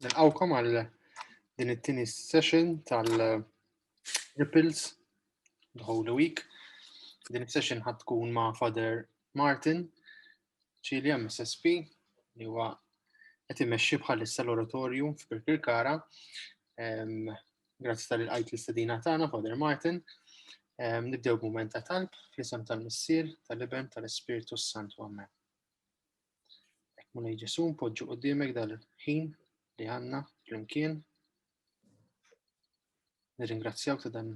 Nilqawkom għal din it-tieni session tal-Ripples the Holy Week. Din is-session ħad tkun ma' Father Martin Ċilja MSSP li huwa qed imexxi bħalissa l-oratorju f'Birkirkara Grazzi tal għajt l-istedina tagħna, Father Martin. Nibdew b'mument ta' talb fl-isem tal-Missier, tal-Iben, tal-Ispirtu s-Santu Amen. Ek mulej Ġesu, npoġġu qudiemek dal-ħin li għanna flimkien. Nirringrazzjawk ta' dan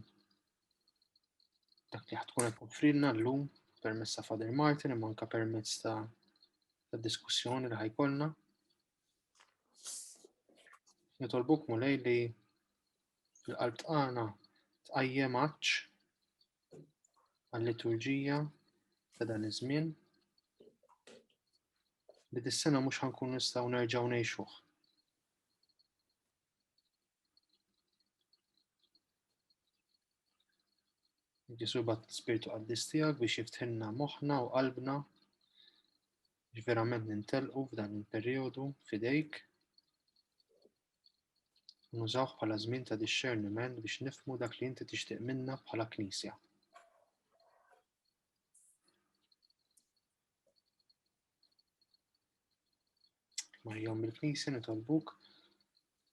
dak li ħatkun qed offrilna llum permezz ta' Father Martin imma anke permezz ta' diskussjoni li ħajkolna. Nitolbuk mulej li l-qalb tqana tqajjem għaċ għall-liturġija ta' dan iż-żmien li dis-sena mhux ħankun nistgħu nerġgħu ngħixuh. Ġesu bat spirtu qaddis tiegħek biex jiftħinna moħħna u qalbna li verament nintelqu f'dan il-perjodu fidejk nużawh bħala żmien ta' discerniment biex nifmu dak li inti tixtieq minna bħala knisja. Marjom il-knisja nitolbuk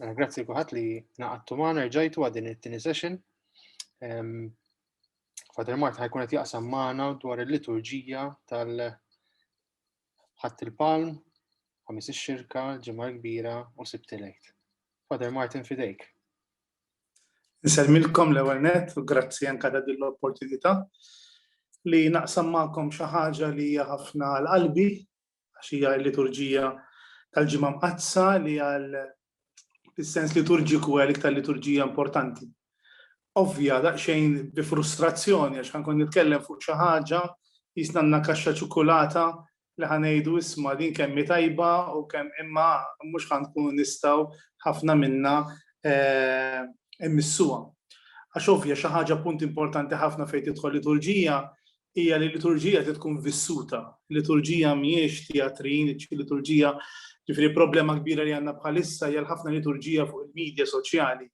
Mela, grazzi kuħat li naqattu maħna rġajtu għadin it-tini session. Father Mart ħajkun qed jaqsam maħna dwar il-liturġija tal-ħadd il-palm, ħamis ix-xirka, ġimgħa kbira u sibtilejt. Father Martin fidejk. Nselmilkom l-ewwel net u grazzi anke ta' din l-opportunità li naqsam magħkom xi ħaġa li hija ħafna l-qalbi għax hija l-liturġija tal-ġimgħa mqaddsa li għal fis-sens liturġiku għal iktar liturġija importanti. Ovvja daqsxejn bi frustrazzjoni għax ħankun nitkellem fuq xi ħaġa jisnanna kaxxa ċokolata li ħanejdu isma' din kemm tajba u kemm imma mhux ħankunu nistgħu ħafna minna eh, immissuha. Għax ovvja xi ħaġa punt importanti ħafna fejn tidħol liturġija hija li l-liturġija trid tkun vissuta. Liturġija mhijiex teatrin, liturġija ġifieri problema kbira li għandna bħalissa hija ħafna liturġija fuq il-medja soċjali.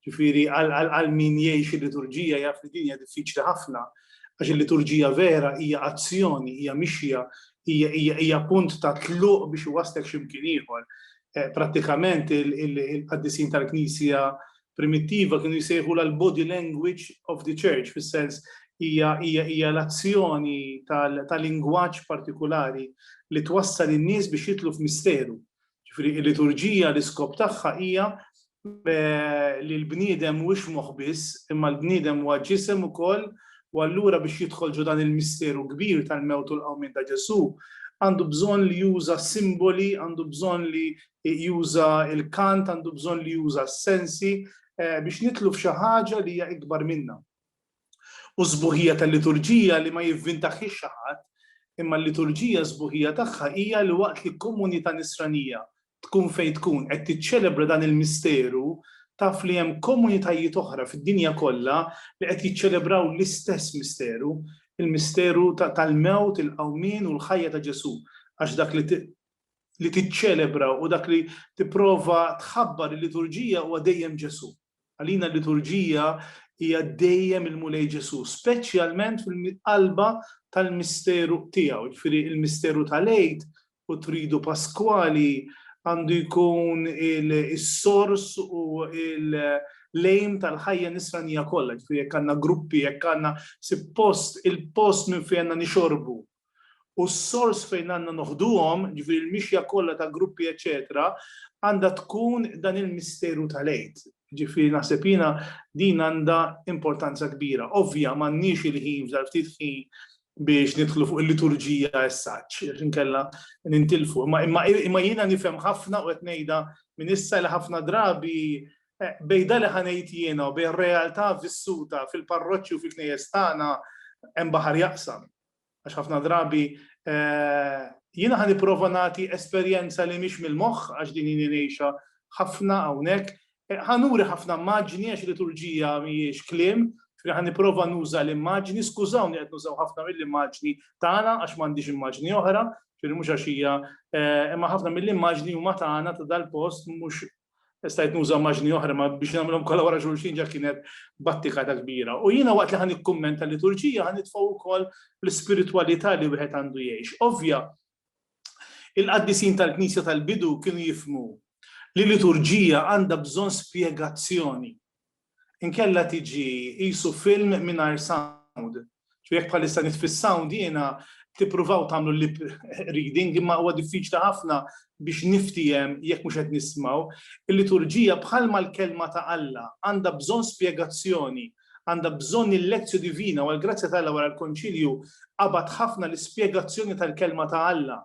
Ġifieri għal min jgħix il-liturġija jaf li din hija diffiċli ħafna għax il-liturġija vera hija azzjoni, hija mixja, hija punt ta' tluq biex iwaslek x'imkien ieħor. Eh, prattikament il-qaddisin tal-Knisja primittiva kienu jsejħulha l-body language of the church, fis-sens hija hija hija l-azzjoni ta' lingwaġġ partikulari li twassal in-nies biex jidħlu f'misteru. Ġifieri l-liturġija l-iskop tagħha hija li l-bniedem mhuwiex moħħ biss, imma l-bniedem huwa ġisem ukoll u allura biex jidħol ġo dan il-misteru kbir tal-mewt u l-qawmien ta' Ġesù għandu bżonn li juża simboli, għandu bżonn li juża l-kant, għandu bżonn li juża s-sensi eh, biex nitlu f'xi ħaġa li hija ikbar minna. U sbuħija tal-liturġija li ma jivvintaħħiex xi ħadd, imma l-liturġija sbuħija tagħha hija li waqt li komunità nisranija tkun fejn tkun qed tiċċelebra dan il-misteru taf li hemm komunitajiet oħra fid-dinja kollha li qed jiċċelebraw l-istess misteru, il-misteru tal-mewt, il-qawmin u l-ħajja ta' Ġesu, għax dak li li tiċċelebra u dak li tipprova tħabbar il-liturġija huwa dejjem Ġesù. Għalina l-liturġija hija dejjem il-Mulej Ġesù, speċjalment fil-qalba tal-misteru tiegħu, ġifieri il-misteru tal-Għid u tridu Paskwali għandu jkun il-sors u il- lejm tal-ħajja nisranija kollha, ġifieri jekk għandna gruppi, jekk għandna suppost il-post minn fejn għandna nixorbu u s-sors fejn għandna noħduhom, jiġifieri l-mixja kollha ta' gruppi eċċetera, għandha tkun dan il-misteru tal-Għid. Jiġifieri naħseb jiena din għandha importanza kbira. Ovvja m'għandniex il-ħin f'dan ftit ħin biex nidħlu fuq il-liturġija as such, għax inkella nintilfu. Imma jiena nifhem ħafna u qed ngħidha minn issa li ħafna drabi eh, bejda li ħanejt jiena u bejn realtà vissuta fil-parroċċi u fil-knejjes tagħna hemm baħar jaqsam. Għax ħafna drabi eh, jiena ħan nipprova nagħti esperjenza li mhix mill-moħħ għax din jini ngħixha ħafna hawnhekk. Eh, ħanuri ħafna maġni għax liturġija mhijiex kliem, ħan nipprova nuża l-immaġni, skużawni qed nużaw ħafna mill-immaġni tagħna għax m'għandix immaġni oħra, ġifieri mhux għax hija eh, imma ħafna mill-immaġni huma tagħna ta' dal-post mhux stajt nuża maġni oħra ma biex nagħmilhom kollha wara xulxin ġa kienet battika ta' kbira. U jiena waqt li ħan ikkummenta liturġija ħan nitfgħu wkoll l-ispiritwalità li wieħed għandu jgħix. Ovvja, il-qaddisin tal-Knisja tal-bidu kienu jifmu li liturġija għandha bżonn spjegazzjoni. inkella tiġi qisu film mingħajr sound. Ġifieri jekk bħalissa nitfi s-sound jiena tippruvaw tagħmlu lip reading imma huwa diffiċli ħafna biex niftiehem jekk mhux qed nismgħu. Il-liturġija bħalma l-Kelma ta' Alla għandha bżonn spjegazzjoni, għandha bżonn il-lectio divina u għall-grazzja ta' Alla wara l-Konċilju qabad ħafna l-ispjegazzjoni tal-Kelma ta' Alla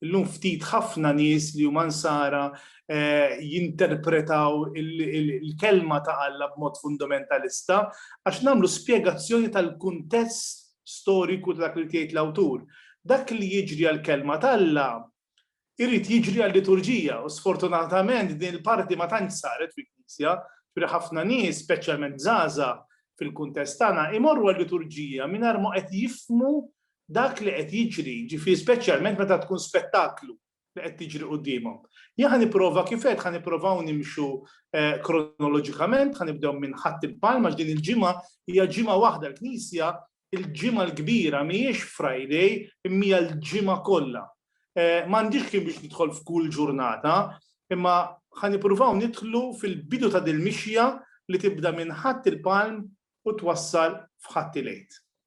Illum ftit ħafna nies li huma Nsara jinterpretaw il-Kelma ta' Alla b'mod fundamentalista għax nagħmlu spjegazzjoni tal-kuntest storiku ta' dak li ried jgħid l-awtur. Dak li jiġri għall-Kelma t'Alla jrid jiġri għal-liturġija u sfortunatament din il-parti ma tantx saret fil-Knisja, ġifieri ħafna nies, speċjalment żgħażagħ fil-kuntest tagħna, imorru għal-liturġija mingħajr ma qed jifhmu dak li qed jiġri, jiġifieri speċjalment meta tkun spettaklu li qed tiġri quddiemhom. Jien ħa nipprova kif għedt ħa nipprovaw nimxu kronoloġikament, ħa nibdew minn Ħadd il-Palm għax din il-ġimgħa hija ġimgħa waħda l-Knisja il-ġimgħa l-kbira mhijiex Friday imma hija l-ġimgħa kollha. M'għandix kien biex nidħol f'kull ġurnata, imma ħa nippruvaw nidħlu fil-bidu ta' dil-mixja li tibda minn Ħadd il-Palm u twassal f'Ħadd il-Għid.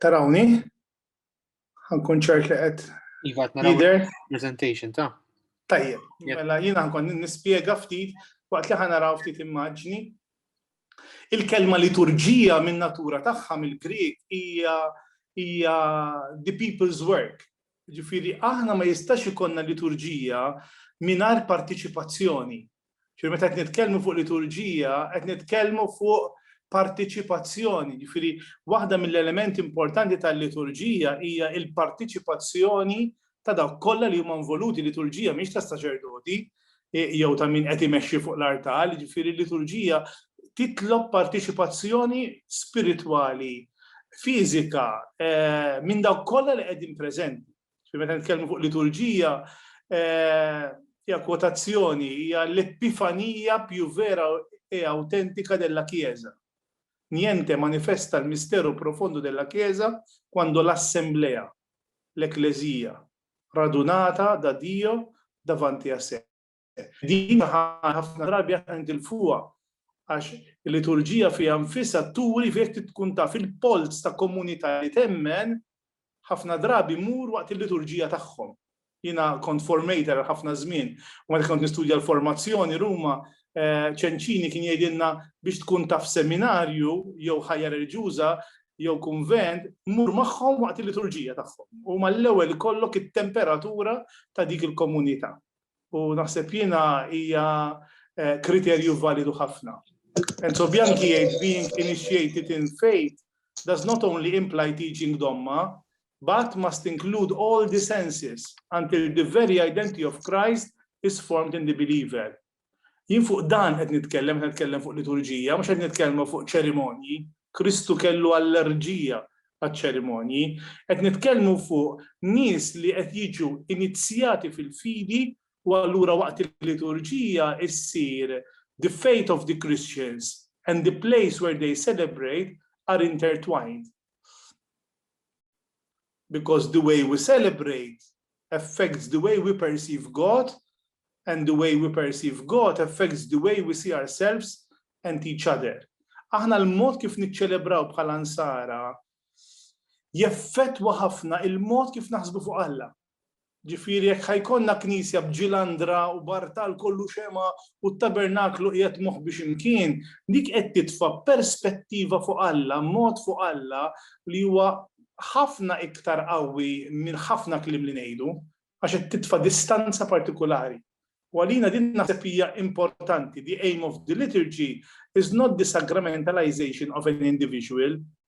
Tarawni? Għankun ċert li għed. Iva, naraw. Presentation ta' Tajjeb, mela jina nkun nispjega ftit waqt li ħanaraw ftit immaġni. Il-kelma liturġija minn natura tagħha mill-Grieg hija hija the people's work. Ġifieri aħna ma jistax ikonna liturġija mingħajr partiċipazzjoni Ġifieri meta qed nitkellmu fuq liturġija, qed nitkellmu fuq partiċipazzjoni, ġifieri waħda mill-elementi importanti tal-liturġija hija l-partiċipazzjoni ta' dawk kollha li huma involuti, liturġija mhix ta' saċerdoti jew ta' min qed imexxi fuq l-artal, ġifieri l-liturġija titlob partiċipazzjoni spiritwali, fiżika, minn dawk kollha li qegħdin preżenti. Meta nitkellmu fuq liturġija, eh, hija kwotazzjoni, hija l-epifanija più vera e autentika della Chiesa. Niente manifesta il mistero profondo della Chiesa quando l'assemblea, l-Eklezija, radunata da Dio davanti a sé. Din ħafna drabi aħna nitilfuha għax il-liturġija fiha nfisha turi fejn tkun taf il-polz ta' komunità li temmen ħafna drabi mur waqt il-liturġija tagħhom. Jiena kont formator ħafna żmien u meta kont nistudja l-formazzjoni Ruma eh, ċenċini kien jgħidilna biex tkun taf seminarju jew ħajja reliġjuża jew kunvent mur magħhom waqt il-liturġija tagħhom. U mal-ewwel kollok it-temperatura ta' dik il-komunità. u naħseb jiena hija eh, kriterju validu ħafna. Enzo Bianchi jgħid being initiated in faith does not only imply teaching domma, but must include all the senses until the very identity of Christ is formed in the believer. Jien fuq dan qed nitkellem, qed nitkellem fuq liturġija, mhux qed nitkellmu fuq ċerimonji, Kristu kellu allerġija għaċ-ċerimonji. Qed nitkellmu fuq nies li qed jiġu inizzjati fil-fidi u allura waqt il-liturġija ssir The faith of the Christians and the place where they celebrate are intertwined. Because the way we celebrate affects the way we perceive God and the way we perceive God affects the way we see ourselves and each other. Aħna l-mod kif niċċelebraw bħala nsara jeffettwa ħafna il-mod kif naħsbu fuq Alla. Ġifieri jekk ħa jkollna knisja b'ġilandra u b'artal kollu xemgħa u t-tabernaklu qiegħed moħbi xi mkien, dik qed titfa' perspettiva fuq Alla, mod fuq Alla li huwa ħafna iktar qawwi minn ħafna kliem li ngħidu, għax qed titfa' distanza partikulari. U għalina din naħseb hija importanti, the aim of the liturgy is not the sacramentalization of an individual,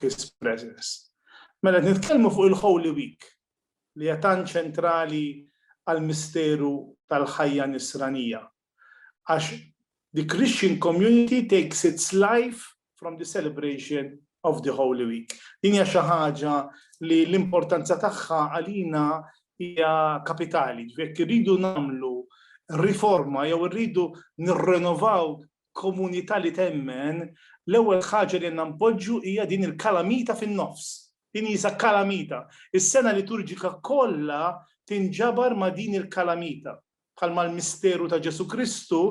His Presence. Mela qed nitkellmu fuq il-Holy Week li hija tant ċentrali għall-misteru tal-ħajja Nisranija. Għax the Christian community takes its life from the celebration of the Holy Week. Din hija xi ħaġa li l-importanza tagħha għalina hija kapitali, ġifieri irridu nagħmlu riforma jew irridu nirrenovaw komunità li temmen, l-ewwel ħaġa li għandna npoġġu hija din il-kalamita fin-nofs. Din hija kalamita. Is-sena liturġika kollha tinġabar ma' din il-kalamita, bħalma l-misteru ta' Ġesù Kristu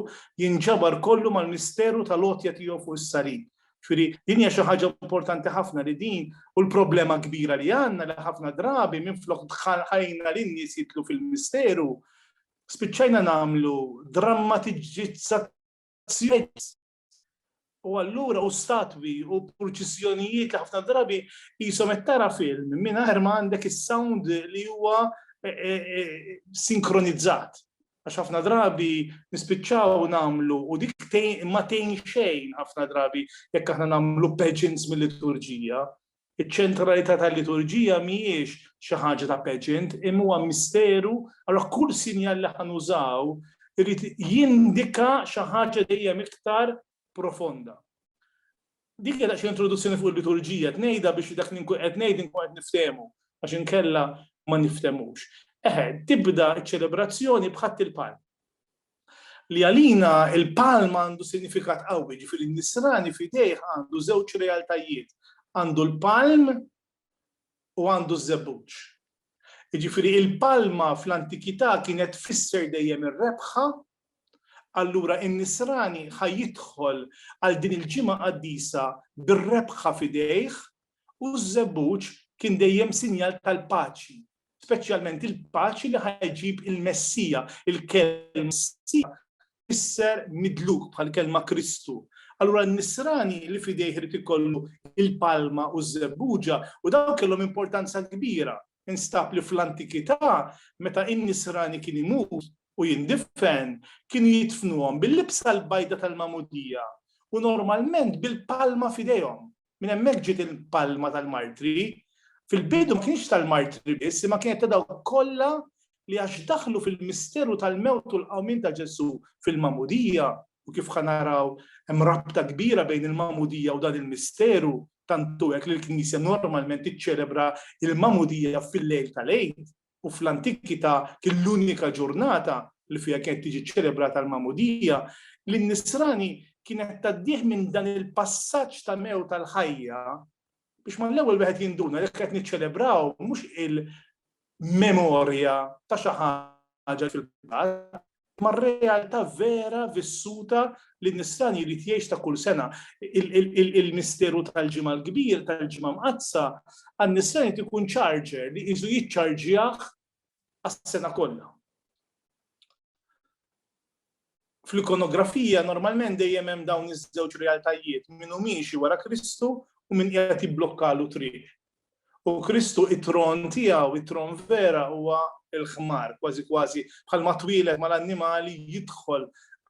jinġabar kollu mal-misteru tal-għotja tiegħu fuq is-salib. Ġifieri din hija xi ħaġa importanti ħafna li din u l-problema kbira li għandna li ħafna drabi minflok dħalna lin-nies jidħlu fil-misteru, spiċċajna nagħmlu drammatiġizzazzjonijiet u allura u statwi u purċissjonijiet li ħafna drabi jisom qed tara film mingħajr ma għandek is-sound li huwa eh, eh, eh, sinkronizzat. Għax ħafna drabi nispiċċaw nagħmlu u dik ma tgħin xejn ħafna drabi jekk aħna nagħmlu pageants mill-liturġija Iċ-ċentralità tal-liturġija mhijiex xi ħaġa ta' pageant imma huwa misteru, allura kull sinjal li ħa nużaw irid jindika xi ħaġa dejjem iktar profonda. Dik hija daqsxejn introduzzjoni fuq il-liturġija, qed ngħidha biex dak li nkun qed ngħid inkun qed niftehmu għax inkella ma nifthemux. Eħe, tibda ċ-ċelebrazzjoni b'ħadd il-palm. li għalina il-palm għandu sinifikat qawwi, ġifieri n-nisrani f'idejh għandu żewġ realtajiet, għandu l-palm u għandu ż-żebbuġ. Ġifieri il-palma fl-antikità kienet tfisser dejjem ir-rebħa, allura n-nisrani ħa jidħol għal din il-ġimgħa qaddisa bir-rebħa f'idejh u ż-żebbuġ kien dejjem sinjal tal-paċi speċjalment il-paċi li ħajġib il-Messija, il-kelma Messija isser midluk bħal kelma Kristu. Allura n-nisrani li fidejh irid ikollu il-palma u z-zebbuġa u dawn kellhom importanza kbira. Instab li fl-antikità meta in-nisrani kien imut u jindifen kien jitfnuhom bil-libsa l-bajda tal-mamudija u normalment bil-palma fidejhom. Minn hemmhekk ġiet il-palma tal-martri. Fil-bidu ma kienx tal-martri biss, imma kienet ta' dawk kollha li għax daħlu fil-misteru tal-mewt u l-qawmien ta' Ġesù fil-magħmudija, u kif ħa naraw hemm rabta kbira bejn il-magħmudija u dan il-misteru, tant hu hekk li l-Knisja normalment tiċċelebra l-magħmudija fil-lejl tal-Għid. u fl-antikità kien l-unika ġurnata li fiha kienet tiġi ċċelebrata l-magħmudija, li n-nisrani kienet tgħaddih minn dan il-passaġġ ta' mewt għal ħajja biex mal-ewwel wieħed jinduna li qed niċċelebraw mhux il-memorja ta' xi ħaġa li fil-passat, mar-realtà vera vissuta li n-nisran jrid jgħix ta' kull sena. Il-misteru tal-Ġimgħa l-Kbir, tal-Ġimgħa Mqaddsa, għan-nisran jrid ikun charger li qisu jiċċarġjah għas-sena kollha. Fl-ikonografija normalment dejjem hemm dawn iż-żewġ realtajiet, min hu miexi wara Kristu u min qiegħed jibblokkalu triq. U Kristu it-tron tiegħu, it-tron vera huwa l-ħmar, kważi kważi bħalma twieled mal-annimali jidħol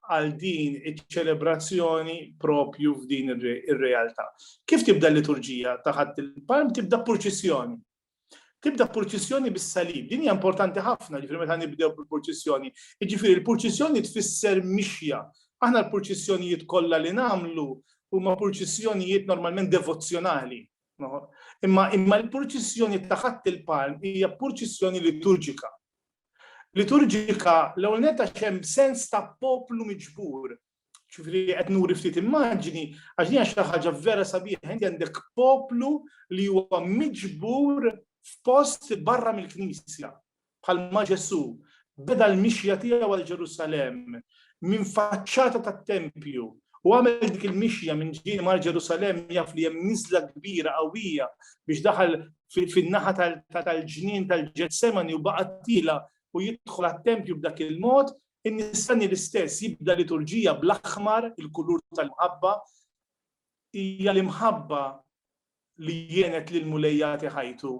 għal din iċ-ċelebrazzjoni propju f'din ir-realtà. Kif tibda l-liturġija ta' ħadd il-palm tibda purċissjoni. Tibda purċissjoni bis-salib. Din hija importanti ħafna ġifieri meta nibdew bil-purċissjoni. Jiġifieri l-purċissjoni tfisser mixja. Aħna l-purċissjonijiet kollha li nagħmlu huma purċissjonijiet normalment devozzjonali Imma imma l-purċissjoni ta' ħadd il-palm hija purċissjoni liturġika. Liturġika l-ewwel netta xem sens ta' poplu miġbur. Ġifieri qed nuri ftit immaġini għax din xi ħaġa vera sabiħa inti għandek poplu li huwa miġbur f'post barra mill-Knisja. Bħalma Ġesù beda l-mixja tiegħu għal Ġerusalemm minn faċċata tat-tempju u għamel dik il-mixja minn ġieli mar Ġerusalemm jaf li hemm niżla kbira qawwija biex daħal fin-naħa tal-ġnien tal-Ġetsemani u baqa' tiela' u jidħol għat-tempju b'dak il-mod, in-Nisrani l-istess jibda liturġija bl-aħmar, il-kulur tal-imħabba. Hija l-imħabba li għenet lill-Mulej jagħti ħajtu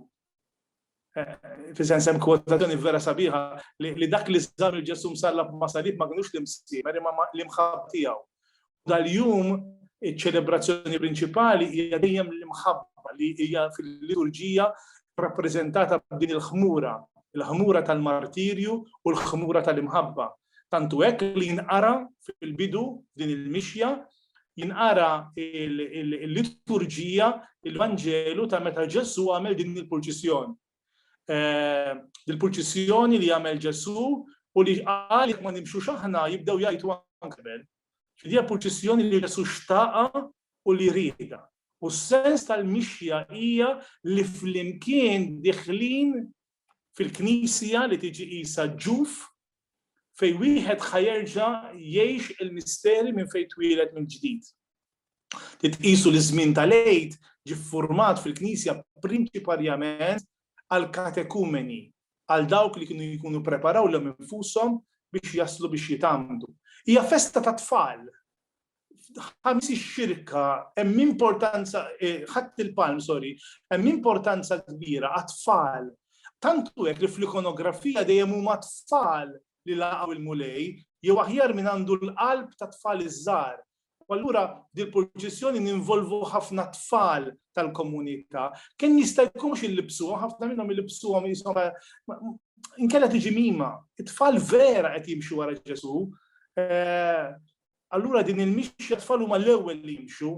fisen sem kwotazzjoni vera sabiħa li dak li żar il-Ġesu msallab ma' salib ma kinux l-imsiemer imma l-imħabba tiegħu. Dal-jum iċ-ċelebrazzjoni prinċipali hija dejjem l-imħabba li hija fil-liturġija rappreżentata b'din il-ħmura, il-ħmura tal-martirju u l-ħmura tal-imħabba. Tantu hekk li jinqara fil-bidu din il-mixja jinqara l-liturġija, il-Vanġelu ta' meta Ġesu għamel din il-purċissjoni. Eh, il-purċissjoni li għamel Ġesu u li għal ma nimxu xaħna jibdew jajtu għankbel. Fidija purċissjoni li Ġesu xtaqa u li rida. U s-sens tal-mixja hija li flimkien diħlin fil-Knisja li tiġi qisha ġuf fejn wieħed ħa jerġa' jgħix il-misteri minn fejn twieled mill-ġdid. Titqisu li ż-żmien tal-Għid ġie ffurmat fil-Knisja prinċiparjament għall-katekumeni, għal dawk li kienu jkunu ppreparaw lilhom infushom biex jaslu biex jitgħammdu. Hija festa tat-tfal, ħames ix-xirka hemm importanza eh, ħadd il-palm, sorry, hemm importanza kbira għat-tfal. Tantu hekk li fl-ikonografija dejjem huma tfal li laqgħu il-mulej, jew aħjar minn għandu l-qalb ta' tfal iż-żgħar. U allura dil-proċessjoni ninvolvu ħafna tfal tal-komunità. Kemm jista' jkunx illibsuhom, ħafna minnhom illibsuhom jisom inkella tiġi mima. It-tfal vera qed jimxu wara Ġesu. Eh, Allura din il-mixja t-tfal huma l-ewwel li jimxu,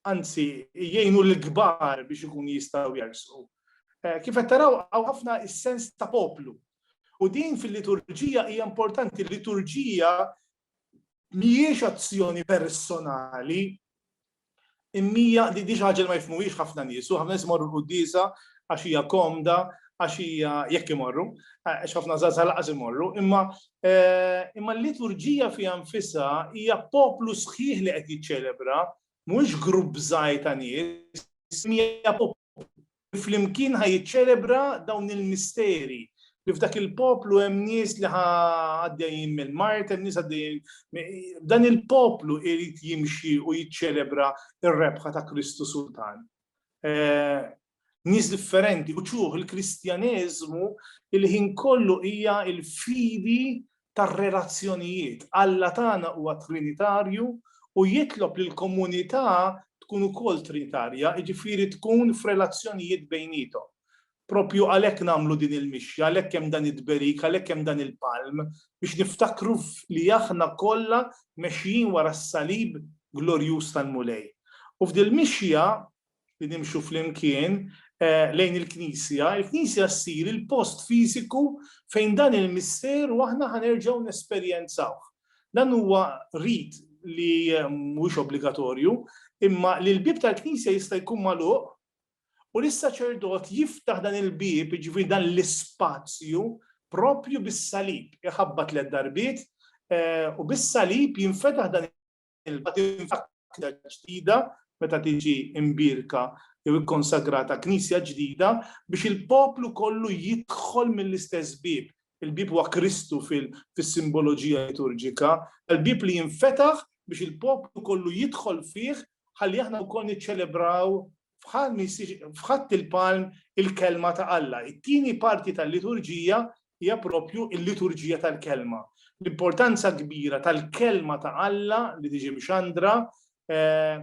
anzi jgħinu lill-kbar biex ikunu jistgħu jersqu. Kif qed taraw hawn ħafna s-sens ta' poplu. U din fil-liturġija hija importanti, l-liturġija mhijiex azzjoni personali, Imnija, di xi ħaġa li ma jifhmuhiex ħafna nies u ħafna nies imorru l-quddiesa għax hija komda, għax hija, jekk imorru, għax ħafna żgħażagħ lanqas imorru, imma imma l-liturġija fiha nfisha hija poplu sħiħ li qed jiċċelebra, mhuwiex grupp żgħir ta' nies, imma hija poplu li flimkien ħa jiċċelebra dawn il-misteri, li f'dak il-poplu hemm nies li ħa għaddejjin mill-mart, hemm nies għaddejjin. Dan il-poplu irid jimxi u jiċċelebra r-rebħa ta' Kristu Sultan. Eh, nies differenti, u ċuħ il-Kristjaneżmu il-ħin kollu hija il-fidi tar-relazzjonijiet. Alla tagħna huwa trinitarju u jitlob li l-komunità tkun ukoll trinitarja, jiġifieri tkun f'relazzjonijiet bejniethom. Proprju għalhekk nagħmlu din il-mixja, għalhekk hemm dan it-tberik, għalhekk hemm dan il-palm, biex niftakru li aħna kollha mexjin wara s-salib glorjuż tal-Mulej. U f'dil-mixja li nimxu flimkien lejn il-Knisja, il-Knisja ssir il-post fiżiku fejn dan il-misteru aħna ħanerġgħu nesperjenzawh. Dan huwa rit li mhuwiex obbligatorju, imma li l-bieb tal-Knisja jista' jkun magħluq u li s-saċerdot jiftaħ dan il-bieb, jiġifieri dan l-ispazju, proprju bis-salib. Iħabbat tliet darbiet u bis-salib jinfetaħ dan l-ilma tinfakra ġdida meta tiġi imbierka jew ikkonsagrata knisja ġdida biex il-poplu kollu jidħol mill-istess bieb. Il-bieb huwa Kristu fis-simboloġija liturġika, l-bieb li jinfetaħ biex il-poplu kollu jidħol fih ħalli aħna wkoll niċċelebraw f'ħadd il-palm il-Kelma ta' Alla. It-tieni parti tal-liturġija hija proprju l-liturġija tal-Kelma. L-importanza kbira tal-Kelma ta' Alla li tiġi mxandra eh,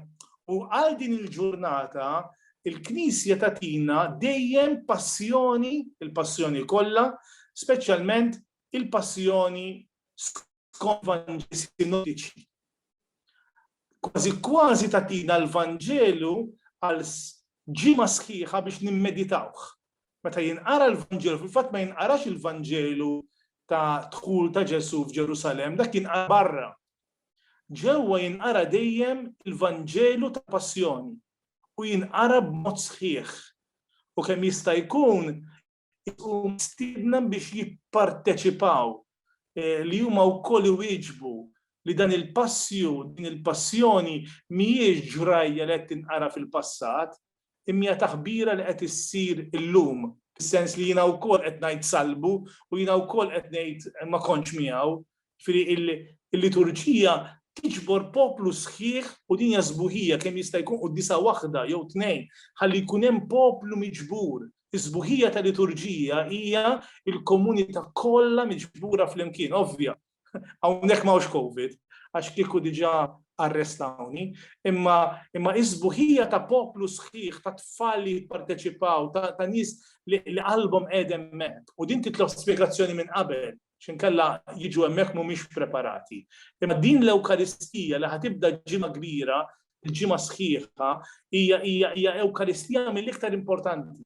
u għal din il-ġurnata il-Knisja tatina dejjem passjoni, il-passjoni kollha, speċjalment il-passjoni skont Vanġeli sinottiċi. Kważi kważi tagħtina l-Vanġelu għal ġimgħa sħiħa biex nimmeditawh. Meta jinqara l-Vanġelu, fil-fatt ma jinqarax il-Vanġelu ta' dħul ta' Ġesu f'Ġerusalem, dak jinqara barra. Ġewwa jinqara dejjem il-Vanġelu ta' Passjoni u jinqara b'mod sħiħ. U kemm jista' jkun u mistiedna biex jipparteċipaw eh, li huma wkoll iwieġbu li dan il-passju, din il-passjoni mhijiex ġrajja li qed tinqara fil-passat, imma taħbira li qed issir illum, fis-sens li jiena wkoll qed ngħid salbu u jiena wkoll qed ngħid ma kontx miegħu, Ġifieri il-liturġija tiġbor poplu sħiħ u din hija sbuħija kemm jista' jkun qudiesa waħda jew tnejn ħalli jkun hemm poplu miġbur. Is-sbuħija ta' liturġija hija l-komunità kollha miġbura flimkien, ovvja. Hawnhekk ma hawnx COVID, għax kieku diġà arrestawni, imma imma is-sbuħija ta' poplu sħiħ ta' tfal li jipparteċipaw, ta' nies li qalbhom qegħdem hemmhekk. U din titlob spjegazzjoni minn qabel. x'inkella jiġu hemmhekk mhumiex preparati. Imma din l-Ewkaristija li ħatibda ġimgħa kbira, il-ġimgħa sħiħa, hija hija hija Ewkaristija mill-iktar importanti.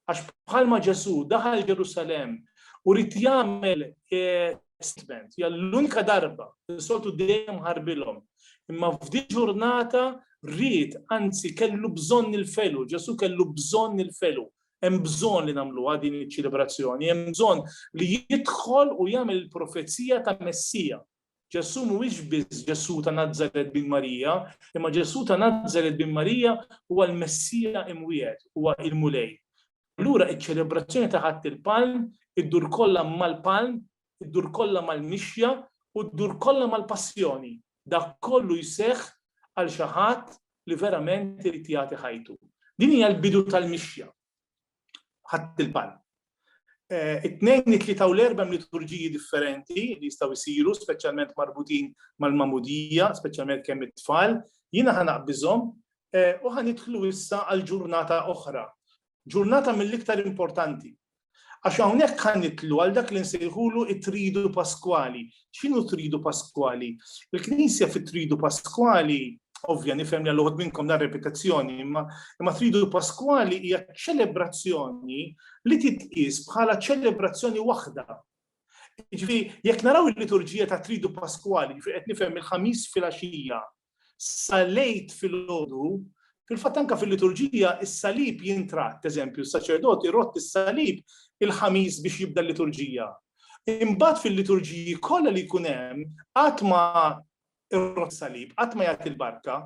Għax bħalma Ġesù daħal Ġerusalemm u rid jagħmel statement, hija l-unika darba li soltu dejjem ħarbilhom. Imma f'di ġurnata rrid, anzi kellu bżonn il-felu, Ġesù kellu bżonn il-felu. Hemm bżonn li nagħmluha din iċ-ċelebrazzjoni, hemm bżonn li jidħol u jagħmel il-profezija ta' Messija. Ġesù mhuwiex biss Ġesù ta' Nazaret bin Marija, imma Ġesù ta' Nazaret bin Marija huwa l-Messija imwiegħed, huwa il-Mulej. Allura iċ-ċelebrazzjoni ta' Ħadd il-Palm iddur kollha mal-Palm id-dur kollha mal-mixja u ddur kollha mal-passjoni, dak kollu jseħħ għal xi ħadd li verament irid jagħti ħajtu. Din hija l-bidu tal-mixja. Ħadt il-palm. It-Tnejn, it-Tlieta u l-Erbgħa hemm liturġiji differenti li jistgħu jsiru, speċjalment marbutin mal-magħmudija, speċjalment kemm it-tfal. Jiena ħa naqbiżhom u ħa nidħlu issa għal ġurnata oħra. Ġurnata mill-iktar importanti. Għax hawnhekk ħa nidħlu għal dak li nsejħulu t-Tridu Paskwali. X'inhu t-Tridu Paskwali? Il-Knisja fit-Tridu Paskwali, ovvja nifhem li għal uħud minnkom dan repetizzjoni, imma imma Tridu Paskwali hija ċelebrazzjoni li titqies bħala ċelebrazzjoni waħda. Ġifi, jekk naraw il-liturġija ta' Tridu Paskwali, ġifi qed nifhem il-ħamis fil-għaxija, sal-Għid filgħodu, fil-fatt anke fil-liturġija is-salib jintratt, eżempju, s-saċerdot irodd is-salib il-Ħamis biex jibda l-liturġija. Imbagħad fil-liturġiji kollha li jkun hemm qatt ma irrodd salib, qatt ma jagħti l-barka,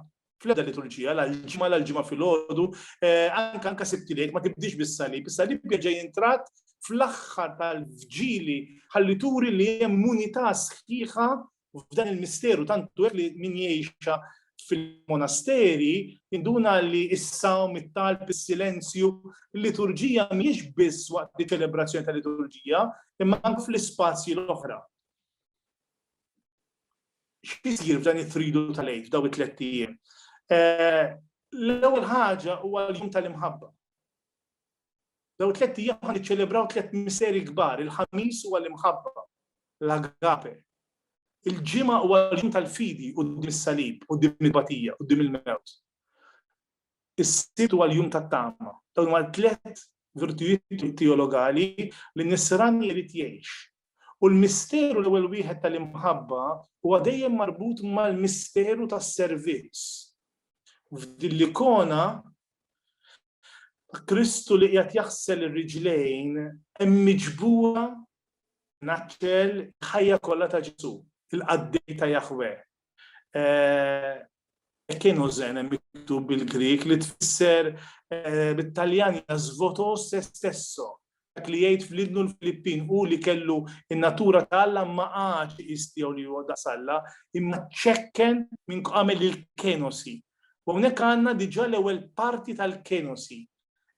fl-ebda liturġija, l-ġimma l-ġimma fil-ħodu, eh, anka anka sibtilek, ma tibdix bis-salib, is-salib bieġa jintrat fl-axħar tal-vġili ħalli turi li hemm unità sħiħa U f'dan il-misteru tantu hekk li min jgħixha fil-monasteri induna li s-sawm, it-talb, is-silenzju, l-liturġija mhijiex biss waqt li ċelebrazzjoni ta' liturġija, imma anke fl-ispazji l-oħra. X'isir f'dan it-tridu tal-għid f'daw it-tlet ijiem? Eh, l-ewwel ħaġa huwa l-jum tal-imħabba. Dawn tlett ijiem ħa niċċelebraw tlett misteri kbar, il-Ħamis huwa l-imħabba, l-agape. Il-Ġimgħa huwa l-jum tal-fidi quddiem is-salib, quddiem il-batija, quddiem il-mewt. Is-Sibt huwa l-jum tat-tama. Dawn huma tlett virtujiet teologali li nisran irid jgħix. U l-misteru l-ewwel wieħed tal-imħabba huwa dejjem marbut mal-misteru tas-servizz. F'din l-ikona Kristu li qiegħed jaħsel ir-riġlejn hemm miġbura naċċel ħajja kollha ta' Ġesu, il-qaddej ta' Jahweh, Kienu zen miktub bil-Grik li tfisser eh, bit-Taljan jasvoto se stesso. Dak li jgħid fl-idnu l-Filippin u li kellu in-natura ta' Alla ma għax istiegħu li huwa daqs Alla, imma ċekken minn għamel il-kenosi. U hawnhekk għandna diġà l-ewwel parti tal-kenosi.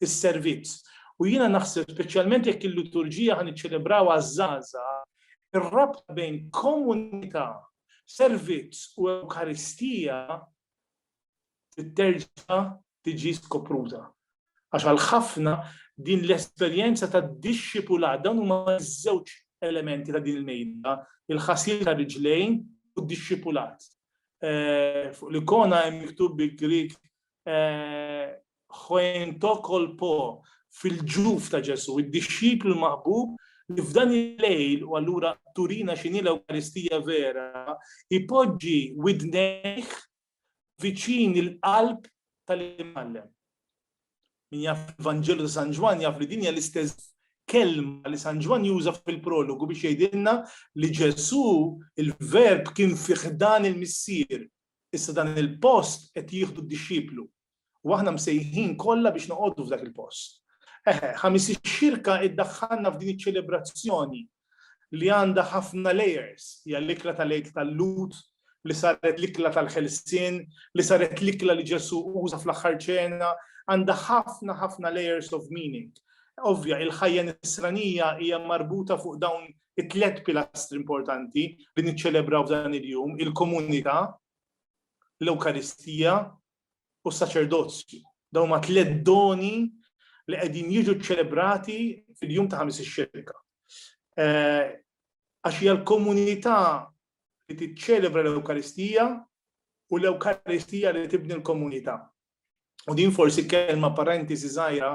is-servizz. U jiena naħseb speċjalment jekk il-liturġija ħa niċċelebraw għaż-żgħażagħ, ir-rabta bejn komunità, servizz u Ewkaristija titterġa' tiġi skopruta. Għax għal ħafna din l-esperjenza ta' dixxipula dawn huma żewġ elementi ta' din il-mejda, il-ħasil ta' riġlejn u d-dixxipulat. Eh, fuq l-ikona hemm miktub bi Grik eh, Huen To Kol Po, fil-ġuf ta' Ġesù, id-dixxiplu l-maħbub li f'dan il-lejl, u allura turina x'inhi l-Ewkaristija vera, ipoġġi widnejh viċin il-qalb tal-Imgħallem. Min jaf il-Vanġelu ta' San Ġwann jaf li din hija l-istess kelma li San Ġwann juża fil-prologu biex jgħidilna li Ġesù il-Verb kien fi ħdan il-Missier, issa dan il-post qed jieħdu d-dixxiplu. U aħna msejħin kollha biex noqogħdu f'dak il-post. Eħe, ħamis ix-xirka iddaħħalna f'din iċ-ċelebrazzjoni li għandha ħafna layers, hija l-ikla tal-Għid tal-Lhud, li saret l-ikla tal-ħelsien, li saret l-ikla li Ġesu uża fl-aħħar ċena, għandha ħafna ħafna layers of meaning. Ovvja, il-ħajja nisranija hija marbuta fuq dawn it-tlet pilastri importanti li niċċelebraw f'dan il-jum, il-komunità, l-Ewkaristija u s-saċerdozju. Dawn huma tliet doni li qegħdin jiġu ċċelebrati fil-jum ta' ħamis ix-xirka. Eh, għax hija l-komunità li tiċċelebra l-Ewkaristija u l-Ewkaristija li tibni l-komunità. U din forsi kelma parentesi żgħira,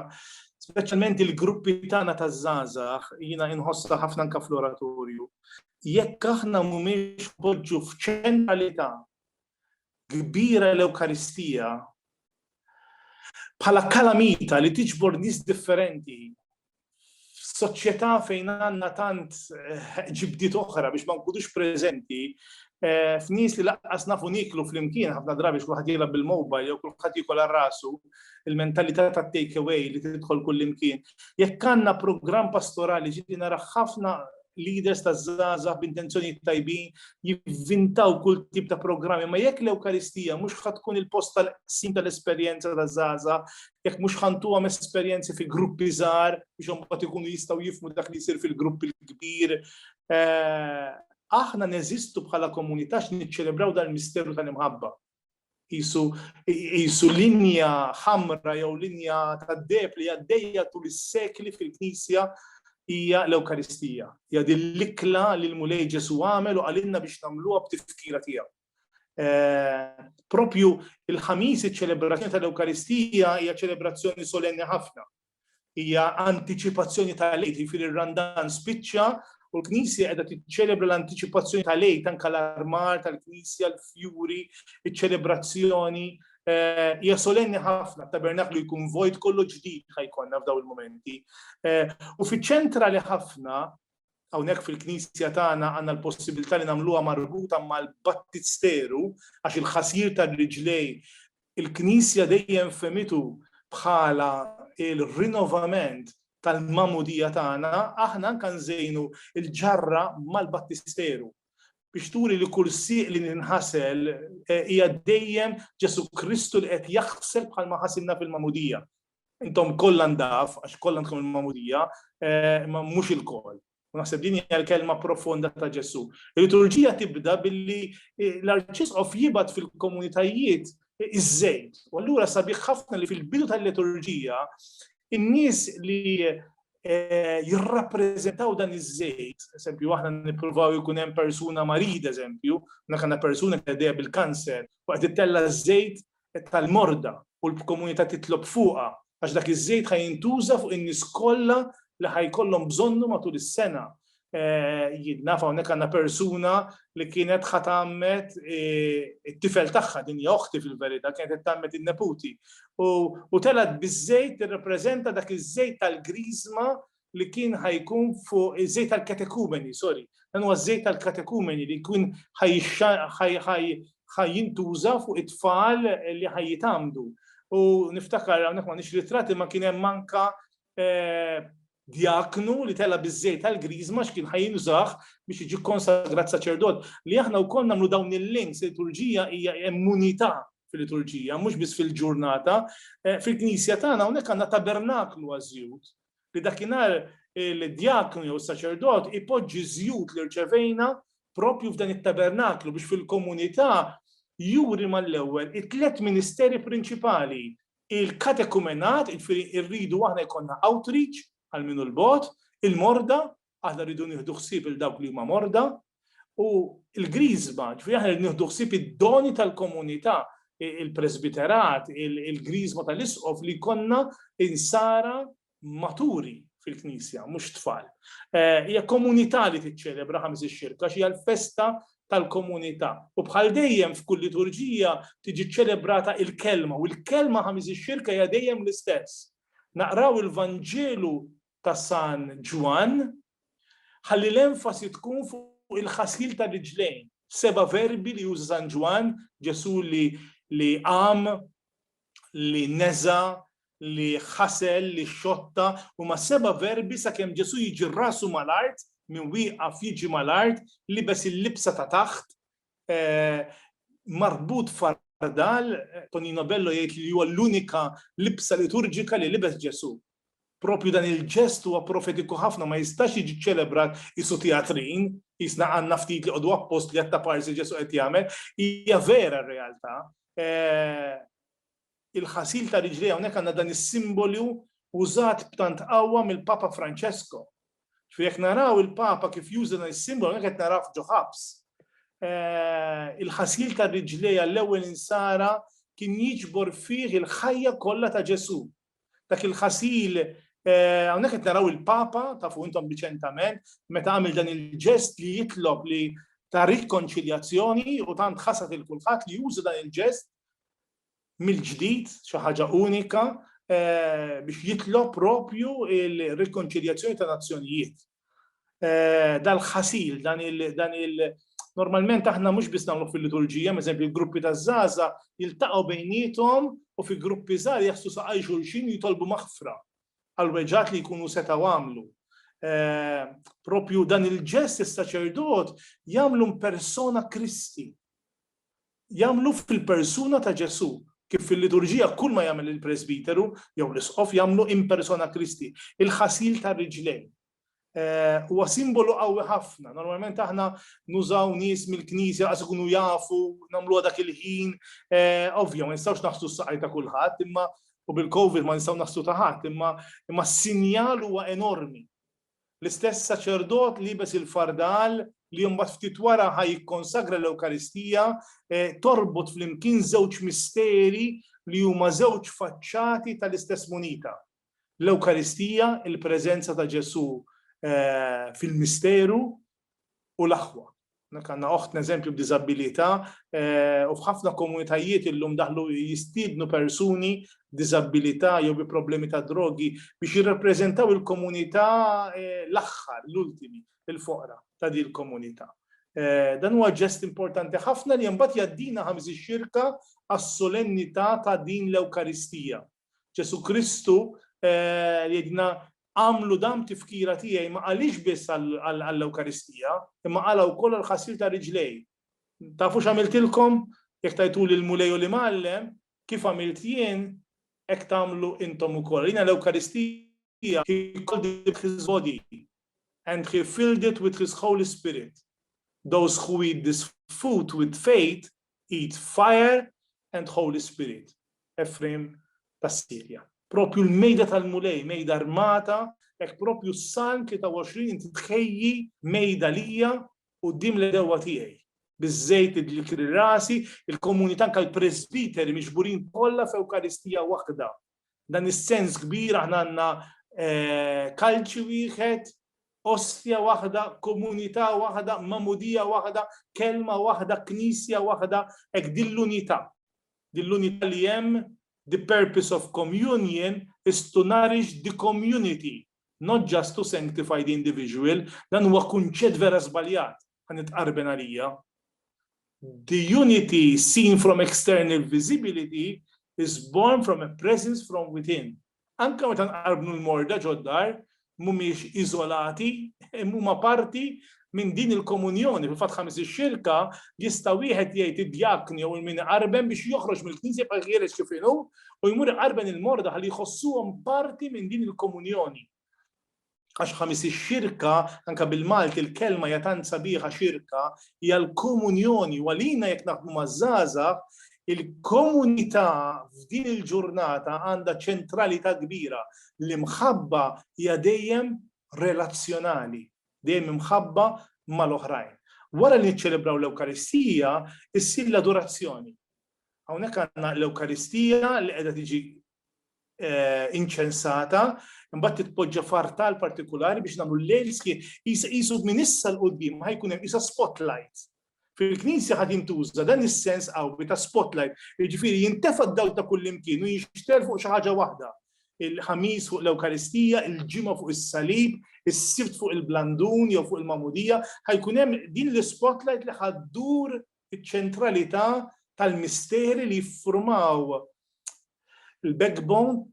speċjalment il-gruppi tagħna ta' żgħażagħ jiena inħossha ħafna anke fl-oratorju. Jekk aħna mhumiex poġġu f'ċentralità kbira l-Ewkaristija bħala kalamita li tiġbor nies differenti f'soċjetà fejn għandna tant eh, ġibdiet oħra biex ma nkunux preżenti eh, f'nies li laqqas nafu niklu flimkien ħafna drabi x'kulħadd jilgħab bil-mobile jew kulħadd jikol rasu il-mentalità ta' take away li tidħol kullimkien. Jekk għandna programm pastorali ġieli nara ħafna leaders ta' żgħażagħ b'intenzjonijiet tajbin jivvintaw kull tip ta' programmi, ma jekk l-Ewkaristija mhux ħad tkun il-post tal-qsim tal-esperjenza ta' żgħażagħ, jekk mhux ħantuhom esperjenzi fi gruppi żgħar biex imbagħad ikunu jistgħu jifmu dak li jsir fil-grupp il-kbir. Eh, aħna neżistu bħala komunità x'niċċelebraw dal-misteru tal-imħabba. jisu linja ħamra jew linja tad-deb li għaddejja tul is-sekli fil-Knisja hija l-Ewkaristija. Hija din l-ikla li l-Mulej Ġesu għamel u għalinna biex nagħmluha b'tifkira tiegħu. Eh, propju il-ħamis iċ-ċelebrazzjoni tal-Ewkaristija hija ċelebrazzjoni solenni ħafna. Hija antiċipazzjoni tal-Għid, jiġifieri r-Randan spiċċa u l-Knisja qiegħda tiċċelebra l-antiċipazzjoni tal-Għid anke l-armar tal-Knisja, l-fjuri, iċ-ċelebrazzjoni. Eh, hija solenni ħafna, tabernaklu jkun vojt kollu ġdid ħajkonna f'daw il-momenti. Eh, u fiċ-ċentra li ħafna hawnhekk fil-Knisja tagħna għandna l-possibilità li nagħmluha marbuta mal-battisteru għax il-ħasir tal-riġlej Il-Knisja dejjem fehmitu bħala l-rinnovament tal-Magħmudija tagħna, aħna anke nżejnu l-ġarra mal-Battisteru biex turi li kull sieq li ninħasel hija dejjem Ġesù Kristu li qed jaħsel bħalma ħasilna fil-Magħmudija. Intom kollha ndaf, għax kollha għandkom il-Magħmudija, imma mhux ilkoll. U naħseb din hija l-kelma profonda ta' Ġesù. Il-liturġija tibda billi eh, l-arċisqof jibgħat fil-komunitajiet eh, iż-żejt. U allura sabiħ ħafna li fil-bidu tal-liturġija in-nies li eh, jirrappreżentaw dan iż-żejt, eżempju, aħna nippruvaw ikun hemm persuna marid, eżempju, nakanna persuna li bil-kanser, waqt it-tella żejt tal-morda u l-bkomunità titlob fuqha għax dak iż-żejt ħa jintuża fuq in-nies kollha li ħa jkollhom bżonnu matul is-sena. Jien naf hawnhekk għandna persuna li kienet ħa tgħammed it-tifel tagħha, din hija oħti fil-verità, kienet qed tgħammed in-neputi. U telgħet biż-żejt tirrappreżenta dak iż-żejt tal-griżma li kien ħajkun fuq iż-żejt tal-katekumeni, sorry, dan huwa żejt tal-katekumeni li jkun ħajjintuża fuq it-tfal li ħajjitamdu. U niftakar hawnhekk ma nix ritrati ma kien hemm manka eh, djaknu li tela biż-żejt tal-griżma x'kien ħajinżaħ biex jiġi konsagrat saċerdot. Li aħna wkoll nagħmlu dawn il-links liturġija hija immunità fil-liturġija, mhux biss fil-ġurnata. Eh, fil-Knisja tagħna hawnhekk għandna tabernaklu għażjut. li dakinhar il-djaknu jew is-saċerdot ipoġġi ż-żjut li rċevejna propju f'dan it-tabernaklu biex fil-komunità juri mal-ewwel it-tliet ministeri prinċipali, il-katekumenat, jiġifieri rridu aħna jkollna outreach għal min hu l-bogħod, il-morda Aħna rridu nieħdu ħsieb il dawk li huma morda u l-griżma, ġifieri aħna rridu nieħdu ħsieb id-doni tal-komunità, il-presbiterat, il-griżma tal-isqof li konna insara maturi fil-Knisja, mhux tfal. Eh, hija komunità li tiċċelebra ħames ix-xirka, xi l-festa tal-komunità. U bħal dejjem f'kull liturġija tiġi ċelebrata il-kelma u l-kelma ħamis ix-xirka hija dejjem l-istess. Naqraw il-Vanġelu ta' San Ġwann, ħalli l-enfasi tkun fuq il-ħasil tar-riġlejn, seba' verbi li juża San Ġwann, Ġesù li qam, li neża', li ħasel, li xotta, huma seba' verbi sakemm Ġesù jiġi rasu mal-art, min wieqaf jiġi mal-art, libes il-libsa ta' taħt, marbut f'fardal, Tonino Bello jgħid li huwa l-unika libsa liturġika li libes Ġesù. Proprju dan il-ġest huwa profetiku ħafna ma jistax jiġi ċċelebrat qisu tjatrin, qisna għandna ftit li qogħdu appost li għat-taparsi Ġesù qed jagħmel, hija vera r-realtà. il-ħasil ta' riġlejha, hawnhekk għandna dan is-simbolu użat b'tant qawwa mill-Papa Francesco. Ġifieri jekk naraw il-Papa kif juża dan is-simbolu, hawnhekk qed narawh ġo ħabs. Il-ħasil ta' riġlejha għall-ewwel insara kien jiġbor fih il-ħajja kollha ta' Ġesù. Dak il-ħasil, hawnhekk qed naraw il-Papa, tafu intom riċentament, meta għamel dan il-ġest li jitlob li ta' rikonċiljazzjoni u tant ħasad lil kulħadd li juża dan il-ġest mill-ġdid, xi ħaġa unika, biex jitlob propju l-rikonċiljazzjoni ta' nazzjonijiet. Dal-ħasil, dan il-, normalment aħna mhux biss nagħmluh fil-liturġija, m'eżempju l-gruppi taż-żgħażagħ jiltaqgħu bejniethom u fi gruppi żgħar jaħslu saqajn xulxin u jitolbu maħfra għall-weġgħat li jkunu setgħu għamlu. Propju dan il-ġest is-saċerdot jagħmlu mpersona Kristi. jagħmlu fil-persuna ta' Ġesù, kif fil-liturġija kull ma jagħmel il-presbiteru jew l-isqof jagħmlu in persona Christi, il-ħasil tar-riġlejn. Huwa simbolu qawwi ħafna. Normalment aħna nużaw nies mill-Knisja laqas ikunu jafu, nagħmluha dak il-ħin. Ovvja, ma nistgħux naħslu s-saqajn ta' kulħadd, imma u bil-COVID ma nistgħu naħslu ta' ħadd, imma s-sinjal huwa enormi. L-istess saċerdot liebes il-fardal, li mbagħad ftit wara ħa jikkonsagra l-Ewkaristija, torbot flimkien żewġ misteri li huma żewġ faċċati tal-istess munita. L-Ewkaristija, il-preżenza ta' Ġesù fil-misteru, u l-aħwa. Hawnhekk għandna oħtna eżempju b'diżabbilità u f'ħafna komunitajiet illum daħlu jistiednu persuni b'diżabbilità jew bi problemi ta' drogi biex jirrappreżentaw il-komunità l-aħħar, l-ultimi, il-foqra ta' din il-komunità. Dan huwa ġest importanti ħafna li mbagħad jgħaddina ħa miżix-xirka għas-solennità ta' din l-Ewkaristija. Ġesù Kristu jgħidilna Agħmlu dan b'tifkira tiegħi ma qalhiex biss għall-Ewkaristija, imma qalha wkoll għall-ħasil ta' riġlejh. Tafu x'għamiltilkom? Jekk tajtuli l-Mulej u l-Imgħallem, kif għamilt jien, hekk tagħmlu intom ukoll. Rina l-Ewkaristija he called it his body and he filled it with his Holy Spirit. Those who eat this food with faith Eat fire and Holy Spirit, Efrejm tas-Sirja. Proprju l-mejda tal-Mulej, mejda armata, hekk proprju s-Salm 23 inti tħejji mejda lija quddiem l-għedewwa tiegħi. Biż-żejt li dlikri rasi, il-komunità anke l-presbiteri miġburin kollha f'Ewkaristija waħda Dan is-sens kbir aħna għandna kalċi wieħed, ostja waħda, komunità waħda, mamudija waħda, kelma waħda, knisja waħda, hekk din l-unità. Din l-unità li hemm the purpose of communion is to nourish the community Not just to sanctify the individual, dan huwa kunċett vera żbaljat, ħa nitqarben għalija. The unity seen from external visibility is born from a presence from within. Anka meta nqarbnu l-morda ġoddar, mhumiex iżolati, huma parti Minn din il-komunjoni, fil-fatt ħames ix-xirka, jista' wieħed jgħid id-djakni jew il-min iqarben biex joħroġ mill-Knisja jibqa' ħieles kif inhu u jmur iqarben il-morda ħalli jħossuhom parti minn din il-komunjoni. Għax ħames ix-xirka, anke bil-Malti l-kelma hija tant sabiħa xirka, hija l-komunjoni u għalina jekk naħdmu maż-żgħażagħ il-komunità f'din il-ġurnata għandha ċentralità kbira. L-imħabba hija dejjem relazzjonali. dejjem imħabba mal-oħrajn. Wara li niċċelebraw l-Ewkaristija, issir l-adorazzjoni. Hawnhekk għandna l-Ewkaristija li qiegħda tiġi eh, inċensata, imbagħad titpoġġa fartal partikolari biex nagħmlu l-lejl qisu minn issa l qudiem ma ħajkun hemm isa spotlight Fil-Knisja ħa jintuża dan is-sens qawwi ta' spotlight, jiġifieri jintefa' d-dawl ta' kullimkien u jinxtgħel fuq xi ħaġa waħda, il-Ħamis fuq l-Ewkaristija, il-Ġimgħa fuq is-Salib, is-Sibt fuq il-Blandun jew fuq il-Magħmudija, ħa jkun hemm din l-ispotlight li ħa ddur iċ-ċentralità tal-misteri li jiffurmaw il-backbone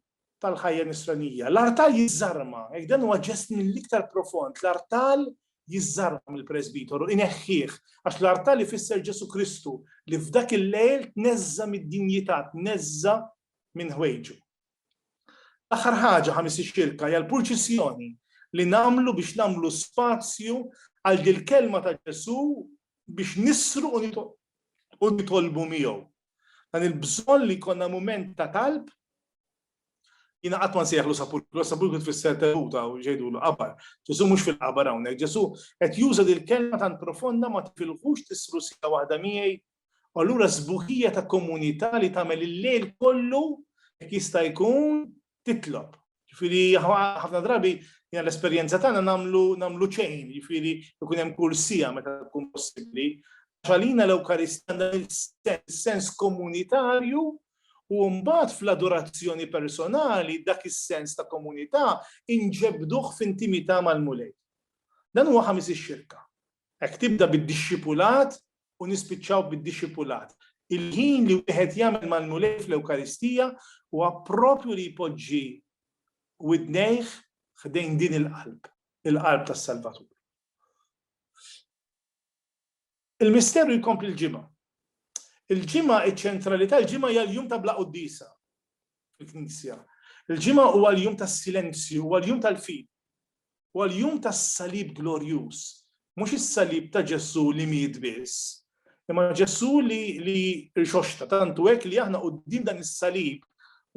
tal-ħajja nisranija. L-artal jiżżarma, jekk dan huwa ġest mill-iktar profond, l-artal jiżżarma mill-presbitoru, ineħħih, għax l-artal ifisser Ġesu Kristu li f'dak il-lejl tneżża mid-dinjità, tneżża minn ħwejġu. L-aħħar ħaġa ħamis ix-xirka hija l-purċissjoni li nagħmlu biex nagħmlu spazju għal dil-kelma ta' Ġesu biex nisru u nitolbu miegħu. Dan il-bżonn li jkollna mument ta' talb, jina qatt ma nsejħlu sapulkru, sapulkru tfisser teluta u ġejdu l-qabar. Ġesu mhux fil-qabar hawnhekk, Ġesu qed juża dil kelma tant profonda ma tifilħux tisru sija waħda miegħi. U allura sbuħija ta' komunità li tagħmel il-lejl kollu jekk jista' jkun titlob. Ġifieri ħafna drabi jien l-esperjenza tagħna nagħmlu nagħmlu ċejn, ġifieri jkun hemm kull sija meta tkun possibbli. Għalina l-Ewkaristja għandha sens komunitarju u mbagħad fl-adorazzjoni personali dak is-sens ta' komunità inġebduh f'intimità mal-Mulej. Dan huwa ħamis ix-xirka. Hekk tibda bid-dixxipulat u nispiċċaw bid-dixxipulat. Il-ħin li wieħed jagħmel mal-Mulej fl-Ewkaristija huwa proprju li jpoġġi widnejh ħdejn din il-qalb, il-qalb tas-Salvatur. Il-misteru jkompli l-Ġimgħa. Il-Ġimgħa, iċ-ċentralità, il-Ġimgħa hija l-jum ta' bla quddiesa. fil-Knisja. Il-ġimgħa huwa l-jum tas-silenzju, huwa l-jum tal-fid, huwa l-jum tas-salib glorjuż. Mhux is-salib ta' Ġesu li miet biss, imma Ġesu li li rixoxta tantu hekk li aħna quddiem dan is-salib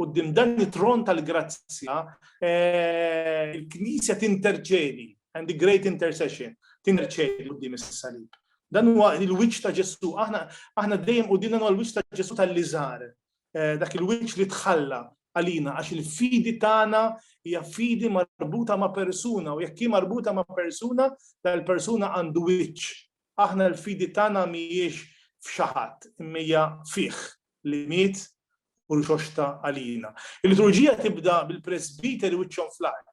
Uddim dan it-tron tal-grazzja, eh, il-Knisja tinterċedi, and the great intercession, tinterċedi uddim is-salib. Dan huwa il-wiċċ ta' Ġesu, aħna aħna dejjem qudiemna huwa l-wiċċ ta' Ġesu tal-liżar, dak il-wiċċ li tħalla għalina għax il-fidi tagħna hija fidi marbuta ma' persuna u jekk hi marbuta ma' persuna, dal-persuna għandu wiċċ. Aħna l-fidi tagħna mhijiex f'xi ħadd, imma hija fih li miet u rxoxta għalina. Il-liturġija tibda bil-presbiteri wiċċhom fl-art.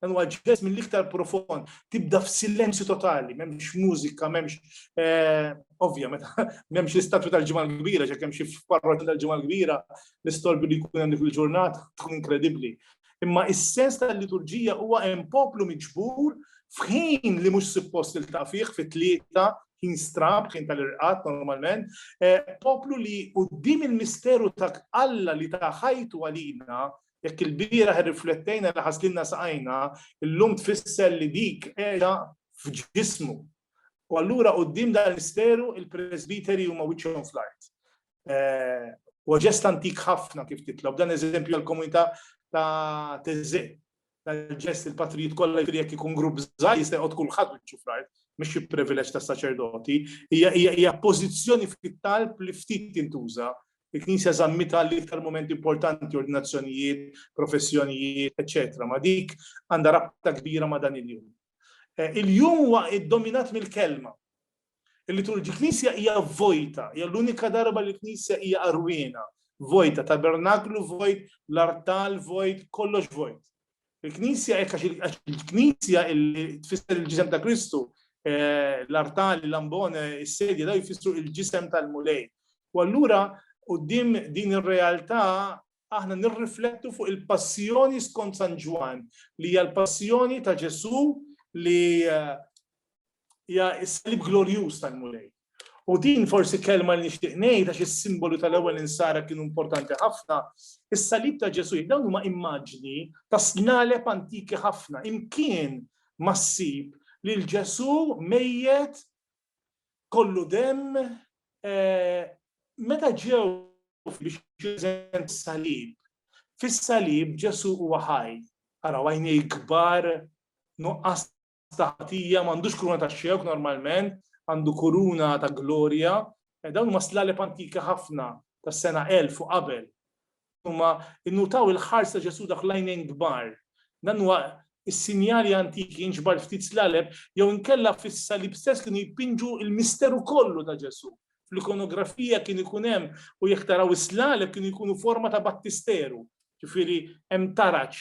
Dan huwa ġest mill-iktar profond, tibda f'silenzju totali, m'hemmx mużika, m'hemmx eh, ovvja meta m'hemmx l-istatwi tal-ġimgħa l-kbira, ġek hemm xi parroti tal-ġimgħa l-kbira, l-istolbi li jkun hemm il-ġurnata tkun inkredibbli. Imma is-sens tal-liturġija huwa hemm poplu miġbur f'ħin li mhux suppost il fih fit-tlieta ħin strab, ħin tal-irqat normalment, eh, poplu li qudiem il-misteru ta' Alla li ta' ħajtu għalina Jekk ilbieraħ irriflettejna li ħaslilna saqajna, illum tfisser li dik qiegħda f'ġismu. U allura quddiem dan il-misteru il-presbiteri huma wiċċhom fl-art. Huwa ġest antik ħafna kif titlob, dan eżempju għall-komunità ta' Teżè. Dal-ġest il-patrijiet kollha jfiri jekk ikun grupp żgħir jista' jqgħod kulħadd wiċċu fl-art, mhux xi privileġġ tas-saċerdoti, hija pożizzjoni fit-talb li ftit tintuża Il-Knisja żammitha l-iktar mument importanti, ordinazzjonijiet, professjonijiet, eċċetera Ma' dik għandha rabta kbira ma' dan il-jum. Il-jum huwa ddominat mill-Kelma. Il-liturġi l-Knisja hija vojta, hija l-unika darba li l-Knisja hija qarwiena, vojta, tabernaklu vojt, l-artal vojt, kollox vojt. Il-Knisja hekk għax il-Knisja li tfisser il-ġisem ta' Kristu, eh, l-artali, l-ambone, is-sedja daw jfissru il-ġisem tal-Mulej. U allura qudiem din ir-realtà aħna nirriflettu fuq il-passjoni skont San Ġwan, li hija l-passjoni ta' Ġesu li eh, hija s-salib glorjuż tal-Mulej. U din forsi kelma li nixtieq ngħid għax is-simbolu tal-ewwel insara kienu importanti ħafna, is-salib ta' Ġesu dawn huma immaġni ta' snaleb antiki ħafna, imkien ma ssib lil Ġesu mejjet kollu demm eh, meta ġew biex jużen salib. Fis-salib Ġesu huwa ħaj, araw għajnej kbar nuqqas ta' ħatija, m'għandux kuruna ta' xewk normalment, għandu kuruna ta' glorja. Eh, dawn huma slaleb antika ħafna tas-sena 1000 u qabel. Huma innutaw il-ħars ta' Ġesu dak lajnejn kbar. Dan huwa is-sinjali antiki jinġbar ftit slaleb jew inkella fis-salib stess kienu jpinġu il-misteru kollu ta' Ġesu. Fl-ikonografija kien ikun hemm u jekk taraw is-slaleb kienu jkunu forma ta' battisteru. Ġifieri hemm taraġ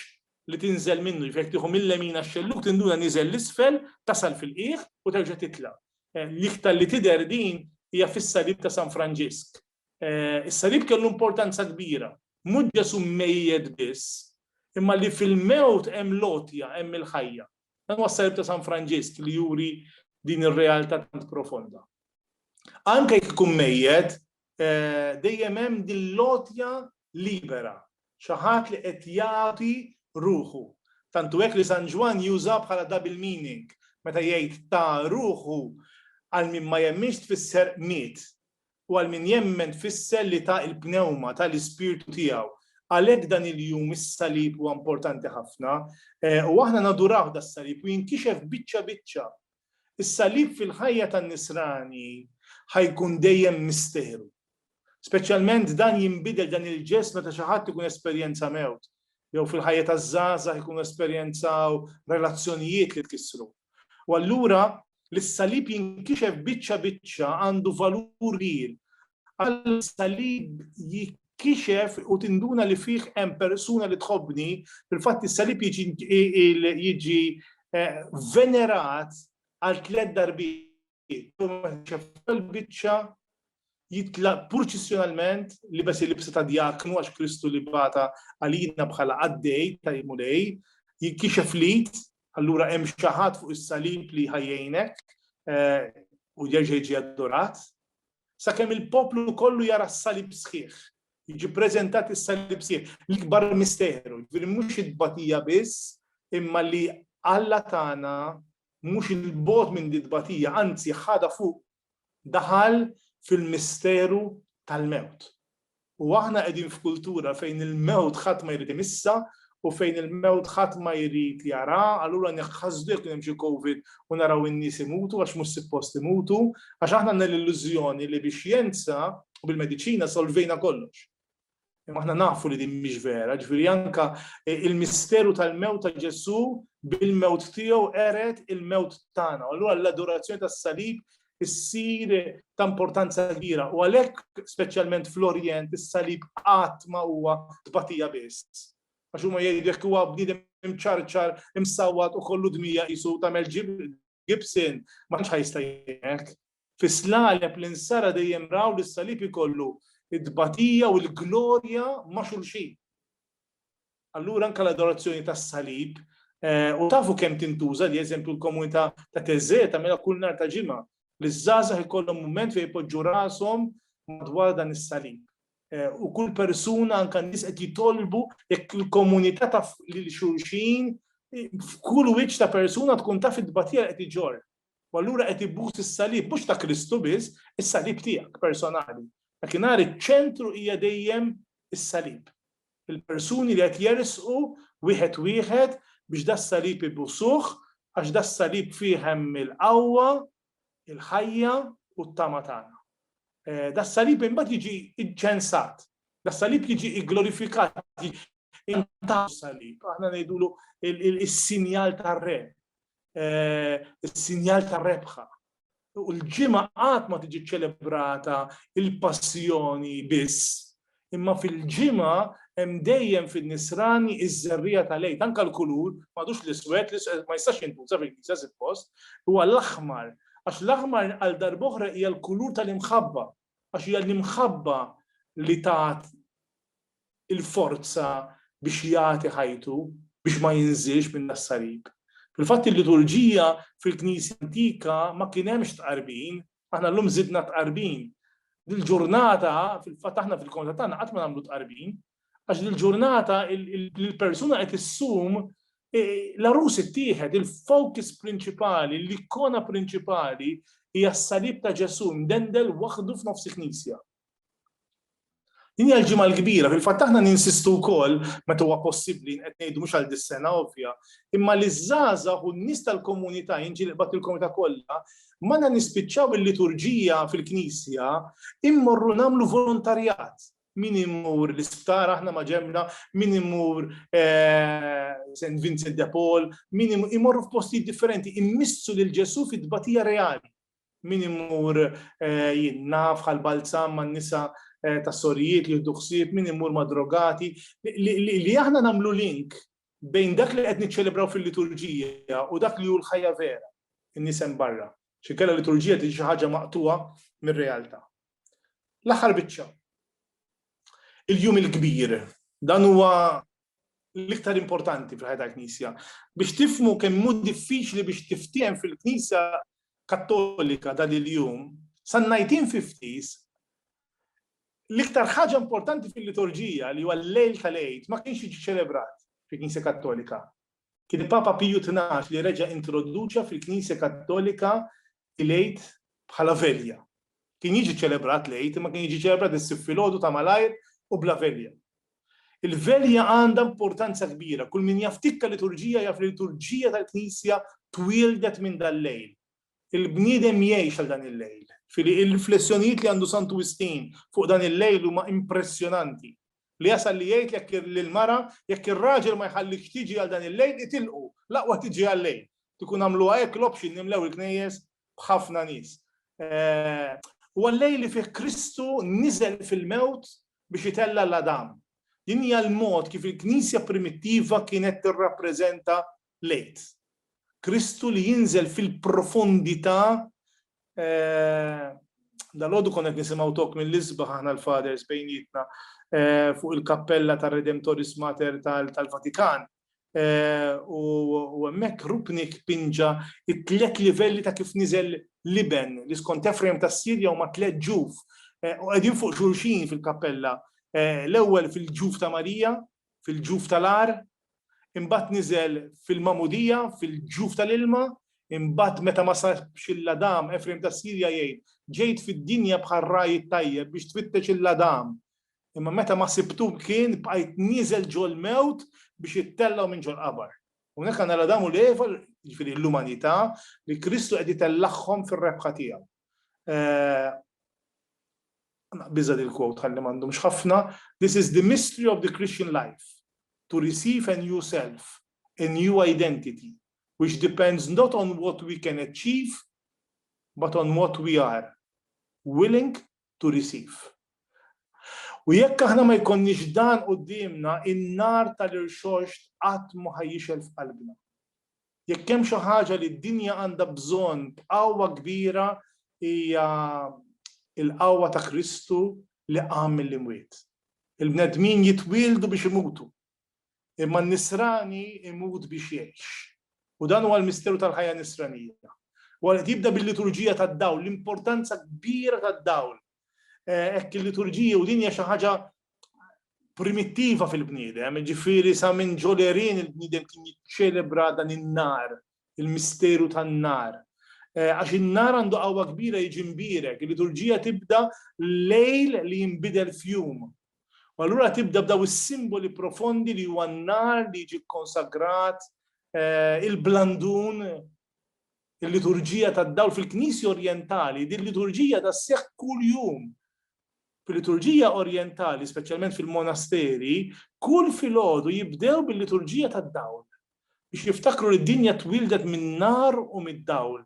li tinżel minnu, jiġifieri jekk tieħu mil-lemin għax-xellug tinduna niżel 'l isfel, tasal fil-qiegħ u terġa' titla'. L-iktar li tidher din hija fis-Salib ta' San Franġisk. Is-Salib kellu importanza kbira. Mhux Ġesù mmejjet biss, imma li fil-mewt hemm l-għotja, hemm il-ħajja. Dan huwa s-Salib ta' San Franġisk li juri din ir-realtà tant profonda. Anke jekk ikun mejjet, dejjem hemm din l-għotja libera, xi ħadd li qed jagħti ruħu. Tant hu hekk li San Ġwann juża bħala double meaning meta jgħid ta ruħu għal min ma jemminx tfisser miet u għal min jemmen tfisser li ta l-pnewma, ta l-ispirtu tiegħu. Għalhekk dan il-jum is-salib huwa importanti ħafna u aħna naduraw das-salib u jinkixef biċċa biċċa Is-Salib fil-ħajja tan-Nisrani ħa jkun dejjem misteru. Speċjalment dan jinbidel dan il-ġest meta xi ħadd ikun esperjenza mewt, jew fil-ħajja taż-żgħażagħ ikunu esperjenzaw relazzjonijiet li tkissru. U allura li s-Salib jinkixef biċċa biċċa għandu valur kbir Alla s-salib jikkixef u tinduna li fih hemm persuna li tħobbni, fil-fatt is-salib jiġi eh, venerat għal tliet darbiet. Biċċa jitla purċissjonalment li bes il-libsa ta' djaknu għax Kristu li bata għalina bħala għaddej ta' jimulej, jikkixef lit, allura hemm xaħat fuq is-salib li ħajjejnek eh, u jerġa' jiġi adorat, sakemm il-poplu kollu jara s-salib sħiħ. Jiġi preżentat is-salib sħiħ, l-ikbar misteru, ġifieri mhux it-tbatija biss, imma li Alla tagħna mhux il-bogħod minn di tbatija, anzi ħadha fuq daħal fil-misteru tal-mewt. U aħna qegħdin f'kultura fejn il-mewt ħadd ma jrid imissha u fejn il-mewt ħadd ma jrid jaraha, allura neħħasdu jekk kien hemm xi Covid u naraw in-nies imutu għax mhux sippost imutu, għax aħna għandna l-illużjoni li bix-xjenza u bil-mediċina solvejna kollox. Imma aħna nafu li din mhix vera, ġifieri anke il-misteru tal-mewt ta' Ġesù bil-mewt tiegħu qered il-mewt tagħna. Allura l-adorazzjoni tas-salib issir ta' importanza kbira u għalhekk speċjalment fl-Orjent is-salib qatt ma huwa tbatija biss. Għax huma jgħidu jekk huwa bniedem imċarċar, imsawwat u kollu dmija qisu tagħmel Gibson ma tantx ħajsta jgħek. Fis-slaleb li nsara dejjem raw li s-salib ikollu id-batija u l-glorja ma' xulxin. Allura anke l-adorazzjoni tas-salib u tafu kemm tintuża li eżempju l-komunità ta' Teżżè tagħmilha kull nhar ta' ġimgħa li ż-żgħażagħ ikollhom mument fejn jpoġġu rashom madwar dan is-salib. U kull persuna anke n-nies qed jitolbu jekk il-komunità taf lil xulxin f'kull wiċċ ta' persuna tkun taf it-tbatija li qed iġorr. U allura qed ibbus is-salib, mhux ta' Kristu biss, is-salib tiegħek personali. Dakinhar iċ-ċentru hija dejjem is-salib. Il-persuni li qed jersqu wieħed wieħed biex das-salib ibusuh għax das-salib fih hemm il-qawwa, il-ħajja u t-tama tagħna. Eh, das-salib imbagħad jiġi ċensat, das-salib jiġi glorifikat, intaw salib, aħna ngħidulu il-sinjal tar-re, eh, is-sinjal ta' rebħa. U l-ġimgħa qatt ma tiġi ċelebrata il-passjoni biss, imma fil-ġimgħa hemm dejjem fin-nisrani iż-żerrija tal-lejt, anke l-kulur, m'għadux l-iswed, ma jistax jintuża fil-kisa suppost, huwa l-aħmar, għax l-aħmar għal darboħra hija l-kulur tal-imħabba, għax hija l-imħabba li tat il-forza biex jagħti ħajtu biex ma jinżilx minn das-salib. Fil-fatt il-liturġija fil-Knisja antika ma kien hemmx tqarbin, aħna llum żidna tqarbin. Dil-ġurnata fil-fatt aħna fil-konta tagħna qatt ma nagħmlu tqarbin, Għax dil-ġurnata l-persuna qed issum l-arus ittieħed, il-focus prinċipali, l-ikona prinċipali hija s-salib ta' Ġesù mdendel waħdu f'nofs il-Knisja. Din hija l-ġimgħa l-kbira, fil-fatt aħna ninsistu wkoll meta huwa possibbli qed ngħidu mhux għal dis-sena ovvja, imma li żgħażagħ u n-nies tal-komunità jinġilqbad il-komunità kollha, ma nispiċċaw il-liturġija fil-Knisja immorru nagħmlu volontarjat. Min imur l-isptar aħna ma ġemna, min imur eh, St. Vincent de Paul, min imorru f'postijiet differenti, immissu lil Ġesu fit-tbatija reali. Min imur eh, jinna bħal balzam man nisa eh, ta' sorijiet li jiddu ħsieb, min imur ma' drogati, li aħna namlu link bejn dak li qed niċċelebraw fil-liturġija u dak li hu l-ħajja vera, in-nisem barra. Xinkella liturġija tiġi xi ħaġa maqtuha mir-realtà. L-aħħar biċċa. Il-jum il-kbir. Dan huwa l-iktar importanti fil-ħajja tal-Knisja. Biex tifmu kemm hu diffiċli biex tiftiehem fil-Knisja Kattolika dan il-jum, san najtin fiftis, l-iktar ħaġa importanti fil-liturġija li huwa l-lejl tal-għid ma kienx jiġi ċelebrat fil-Knisja Kattolika. Kien Papa Piju 12 li reġa' introduċa fil-Knisja Kattolika il-Għid bħala velja. Kien jiġi ċċelebrat l-Għid imma kien jiġi ċċelebrat issib filgħodu ta' malajr u bla velja. Il-velja għandha importanza kbira. Kull min jaf tikka liturġija jaf li liturġija tal-Knisja twieldet minn dal-lejl. Il-bniedem jgħix għal dan il-lejl. Fili il-riflessjonijiet li għandu Santu Wistin fuq dan il-lejl huma impressjonanti. Li jasal li jgħid jekk lill-mara, jekk ir-raġel ma jħallikx tiġi għal dan il-lejl, itilqu, l-aqwa tiġi għal-lejl. Kieku jkun għamluha hekk l-option nimlew il-knejjes b'ħafna nies. Huwa l-lejl li fih Kristu niżel fil-mewt biex itella' 'l Adam. Din hija l-mod kif il-Knisja primittiva kienet tirrappreżenta lejt. Kristu li jinżel fil-profondità Dalgħodu konna qed nisimgħu tok mill-isbaħ aħna l-Fathers bejnietna fuq il-kappella tar-Redemptoris Mater tal-Vatikan. U hemmhekk Rupnik pinġa t-tliet livelli ta' kif niżel l-Iben li skont Ephraim tas-Sirja huma tliet ġuf u qegħdin fuq xulxin fil-kappella. L-ewwel fil-ġuf ta' Marija, fil-ġuf tal-għar, imbagħad niżel fil-magħmudija, fil-ġuf tal-ilma, imbagħad meta ma sabx il-Ladam, Efrejm tas-Sirja jgħid, Ġejt fid-dinja bħal ragħaj it-tajjeb biex tfittex il-Ladam, imma meta ma sibtu kien bqajt nieżel ġol-mewt biex ittellgħu minn ġol-qabar. Hawnhekk għandna l-Adam u l-Eva, jiġifieri l-umanità, li Kristu qed itellagħhom fir-rebħa tiegħu. eh, biża dil quote ħalli m'għandhomx ħafna, this is the mystery of the Christian life, to receive a new self, a new identity, which depends not on what we can achieve, but on what we are willing to receive. U jekk aħna ma jkonniex dan qudiemna in-nar tal-irxoxt qatt ma ħajjixel f'qalbna. Jekk hemm xi ħaġa li d-dinja għandha bżonn b'qawwa kbira hija l-qawwa ta' Kristu li qam mill-imwiet. Il-bnedmin jitwieldu biex imutu, imma n-nisrani jmut biex jgħix. U dan huwa l-misteru tal-ħajja nisranija. Huwa qed jibda bil-liturġija tad-dawl, l-importanza kbira tad-dawl Hekk il-liturġija u din hija xi ħaġa primittiva fil-bniedem, ġifieri sa minn ġolerin il-bniedem kien jiċċelebra dan in-nar, il-misteru tan-nar. Eh, għax in-nar għandu qawwa kbira jiġi mbirek, il-liturġija tibda lejl li jinbidel fjum. U allura tibda b'daw is-simboli profondi li huwa n-nar li jiġi konsagrat, eh, il-blandun, Il-liturġija tad-dawl fil-Knisja Orjentali, din liturġija da sseħħ kuljum. Fil-liturġija Orjentali, speċjalment fil-monasteri, kull filgħodu jibdew bil-liturġija tad-dawl biex jiftakru li d-dinja twildet min-nar u mid-dawl.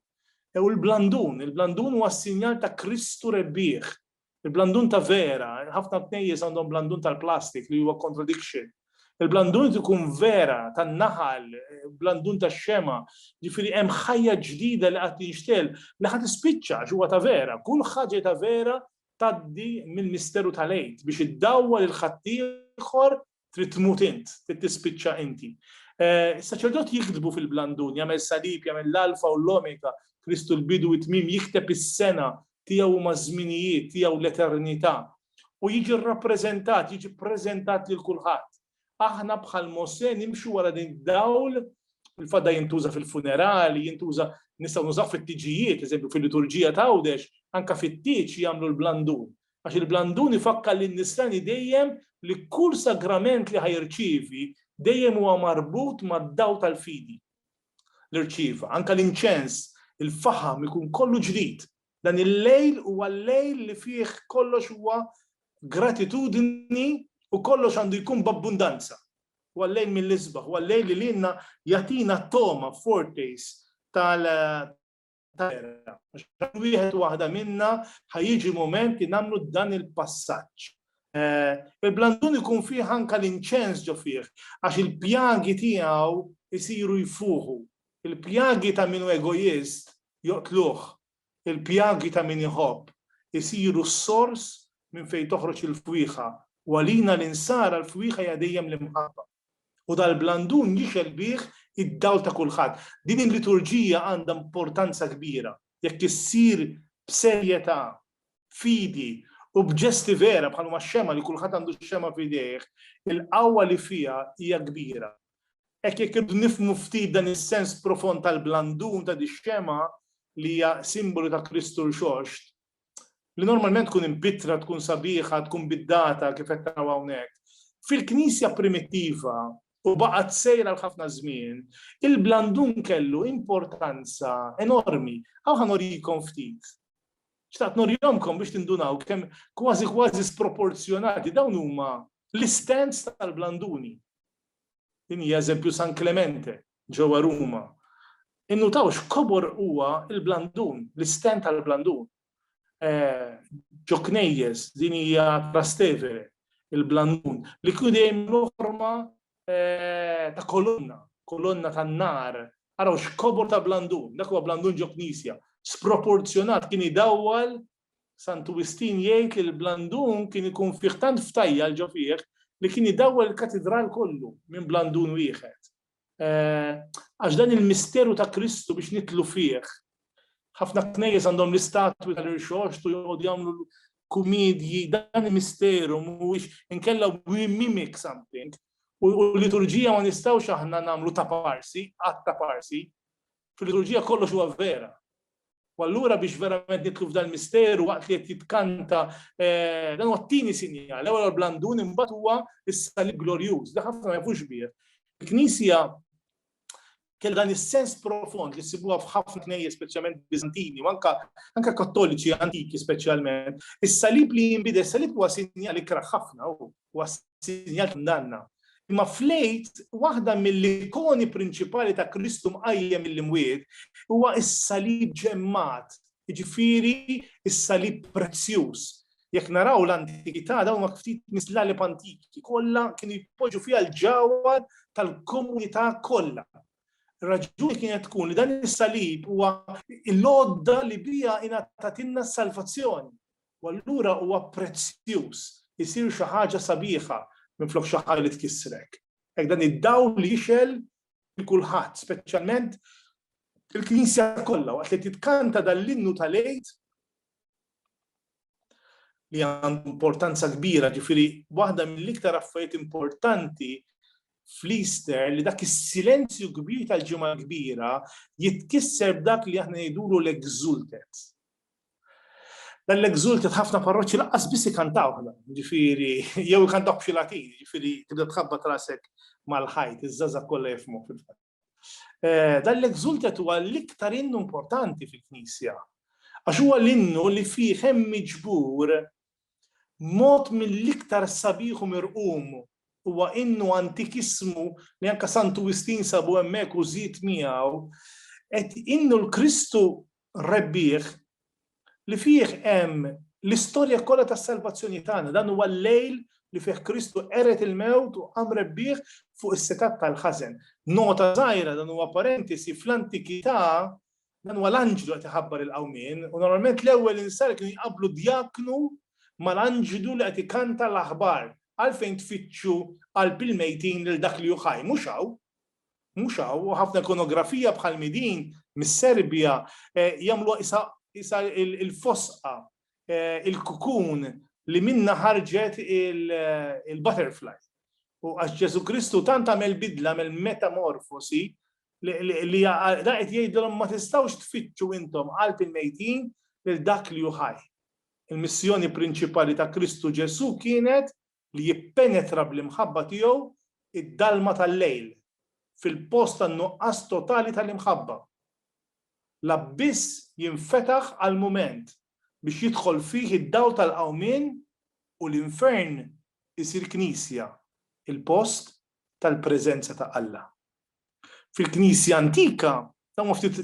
U l-blandun, il-blandun huwa s-sinjal ta' Kristu rebbieħ, Il-blandun ta' vera, ħafna knejjes għandhom blandun tal-plastik li huwa contradiction. Il-blandun ikun vera tan-naħal, blandun tax-xema, ġifieri hemm ħajja ġdida li qed tinxtegħel li ħa tispiċċa għax huwa ta' vera. Kull ħaġa ta' vera tgħaddi mill-misteru tal-Għid biex iddawwal il-ħaddieħor trid tmut int, trid tispiċċa inti. Eh, is-saċerdot jiktbu fil-blandun, jagħmel salib, jagħmel l-alfa u l-omega, Kristu l-bidu it tmim jikteb is-sena tiegħu huma żminijiet tiegħu l-eternità u jiġi rrappreżentat, jiġi ppreżentat lil kulħadd. Aħna bħal Mose nimxu wara din dawl il-fadda jintuża fil-funerali, jintuża nistgħu nużaw fit-tiġijiet, eżempju fil-liturġija ta' għawdex, anka fit-tiġ jagħmlu l-blandun. għax il-blandun ifakkar lin-nisrani dejjem li kull sagrament li ħa jirċievi dejjem huwa marbut mad-dawl tal-fidi li rċieva. Anke l-inċens, il-faħam ikun kollu ġdid. Dan il-lejl huwa l-lejl li fih kollox huwa gratitudni u kollox għandu jkun b'abbundanza. Huwa l-lejl mill-isbaħ, huwa l-lejl li lilna jagħtina togħma, foretaste, terra. Għax wieħed waħda minna ħajġi moment li nagħmlu dan il-passaġġ. Eh, Il-blandun ikun fih anka l-inċens ġo fih, għax il-pjagi tiegħu jisiru jfuħu. Il-pjagi ta' minu egoist joqtluh, il-pjagi ta' min iħobb jisiru s-sors minn fejn toħroġ il-fwiħa. Walina l-insara l-fwiħa jadejjem l-imħabba. u dal-blandun jixgħel bih id-dawl ta' kulħadd. Din il-liturġija għandha importanza kbira jekk issir b'serjetà, b'fidi u b'ġesti vera bħal huma x-xemgħa li kulħadd għandu x-xemgħa f'idejh, il-qawwa li fiha hija kbira. Hekk jekk irridu nifhmu ftit dan is-sens profond tal-blandun ta' dix-xemgħa li hija simbolu ta' Kristu Rxoxt, li normalment tkun imbittra, tkun sabiħa, tkun biddata kif qed naraw hawnhekk. Fil-Knisja primittiva u baqgħet sejra għal ħafna żmien, il-blandun kellu importanza enormi. Aw ħanorikom ftit. Xtaqt norjomkom biex tindunaw kemm kważi kważi sproporzjonati dawn huma l-istands tal-blanduni. Din hija eżempju San Clemente, ġewwa Ruma, innutaw x'kobor huwa l-blandun, l-istenn tal-blandun. Ġo knejjes, din hija Trastevere, il-blandun, li kien dejjem jieħu forma ta' kolonna, kolonna tan-nar. Araw x'kobor ta' blandun, dak huwa blandun ġo knisja, sproporzjonat, kien idawwal, Santu Wistin jgħid li l-blandun kien ikun fih tant ftajjal ġo fih li kien idawwal il-katidral kollu minn blandun wieħed. Għax dan il-misteru ta' Kristu biex nitlu fih. Ħafna knejjes għandhom l-istatwi tal-irxoxt u joqogħdu jagħmlu kumedji, dan il-misteru mhuwiex inkella we mimic something. U l-liturġija ma nistgħux aħna nagħmlu ta' parsi, qatt ta' parsi. Fil-liturġija kollox huwa vera. U allura biex verament nitlu f'dan misteru waqt li qed jitkanta eh, dan huwa t-tieni sinjal, l-ewwel blandun imbagħad huwa is-salib glorjuż, da ħafna ma jafux bih. Il-Knisja kell dan is-sens profond li sibuha f'ħafna knejje speċjalment Bizantini, u anka anka kattoliċi antiki speċjalment. Is-salib li jinbidel, is-salib huwa sinjal ikraħ ħafna u Huwa sinjal ta' kundanna. Imma fl-Għid, waħda mill-ikoni prinċipali ta' Kristu mqajjem mill-imwiet huwa s-salib ġemmat, jiġifieri s-salib prezzjuż. Jekk naraw l-antikità dawn huma ftit mis-slalib antiki kollha kienu jpoġġu fiha l-ġawhar tal-komunità kollha. Ir-raġuni kienet tkun li dan is-salib huwa l-għodda li biha ingħatatilna s-salvazzjoni. U allura huwa prezzjuż, isir xi ħaġa sabiħa minflok xi ħaġa li tkissrek. Hekk dan id-dawl jixgħel lil kulħadd, speċjalment il-Knisja kollha waqt li titkanta dan l-innu tal-Għid li għandu importanza kbira, ġifiri, waħda mill-iktar affarijiet importanti fl-Easter li dak is-silenzju kbir tal-ġimgħa kbira jitkisser b'dak li aħna ngħidulu l-exultet. Dan l-exulted ħafna parroċċi lanqas biss ikantawh dan, ġifieri jew ikantawh b'xi latin, ġifieri tibda tħabbat rasek mal-ħajt, iż-żgħażagħ kollha jifhmuh fil-fatt. Eh, dan l-exulted huwa l-iktar innu importanti fil-Knisja. Għax huwa l-innu li fih hemm miġbur mod mill-iktar sabiħ u mirqum huwa innu antikismu li anka Santu Wistin sabu hemmhekk u żid miegħu qed innu l-Kristu rebbieħ li fih hemm l-istorja kollha tas-salvazzjoni tagħna. Dan huwa l-lejl li fih Kristu qered il-mewt u qam rebbieħ fuq is-setgħat tal-ħażen. Nota żgħira dan huwa parentesi fl-antikità dan huwa l-anġlu qed iħabbar il-qawmien u normalment l-ewwel insar kienu jqabblu djaknu mal-anġlu li qed ikanta l-aħbar għalfejn tfittxu qalb il-mejtin lil dak li hu ħaj mhux hawn. Mhux hawn, u ħafna ikonografija bħalmi din mis-Serbja jagħmluha qisha qisha l-fosqa, il-kukun li minnha ħarġet il-butterfly. U għax Ġesù Kristu tant għamel bidla, għamel metamorfosi, li dan qed jgħidilhom ma tistgħux tfittxu intom qalb il-mejtin lil dak li hu ħaj. Il-missjoni prinċipali ta' Kristu Ġesù kienet li jippenetra bl-imħabba tiegħu id-dalma tal-lejl, fil-post tan-nuqqas totali tal-imħabba. L-abbiss jinfetaħ għall-mument biex jidħol fih id-dawl tal-qawmien u l-infern isir knisja, il-post tal-preżenza ta' Alla. fil-Knisja antika, dawn ma ftit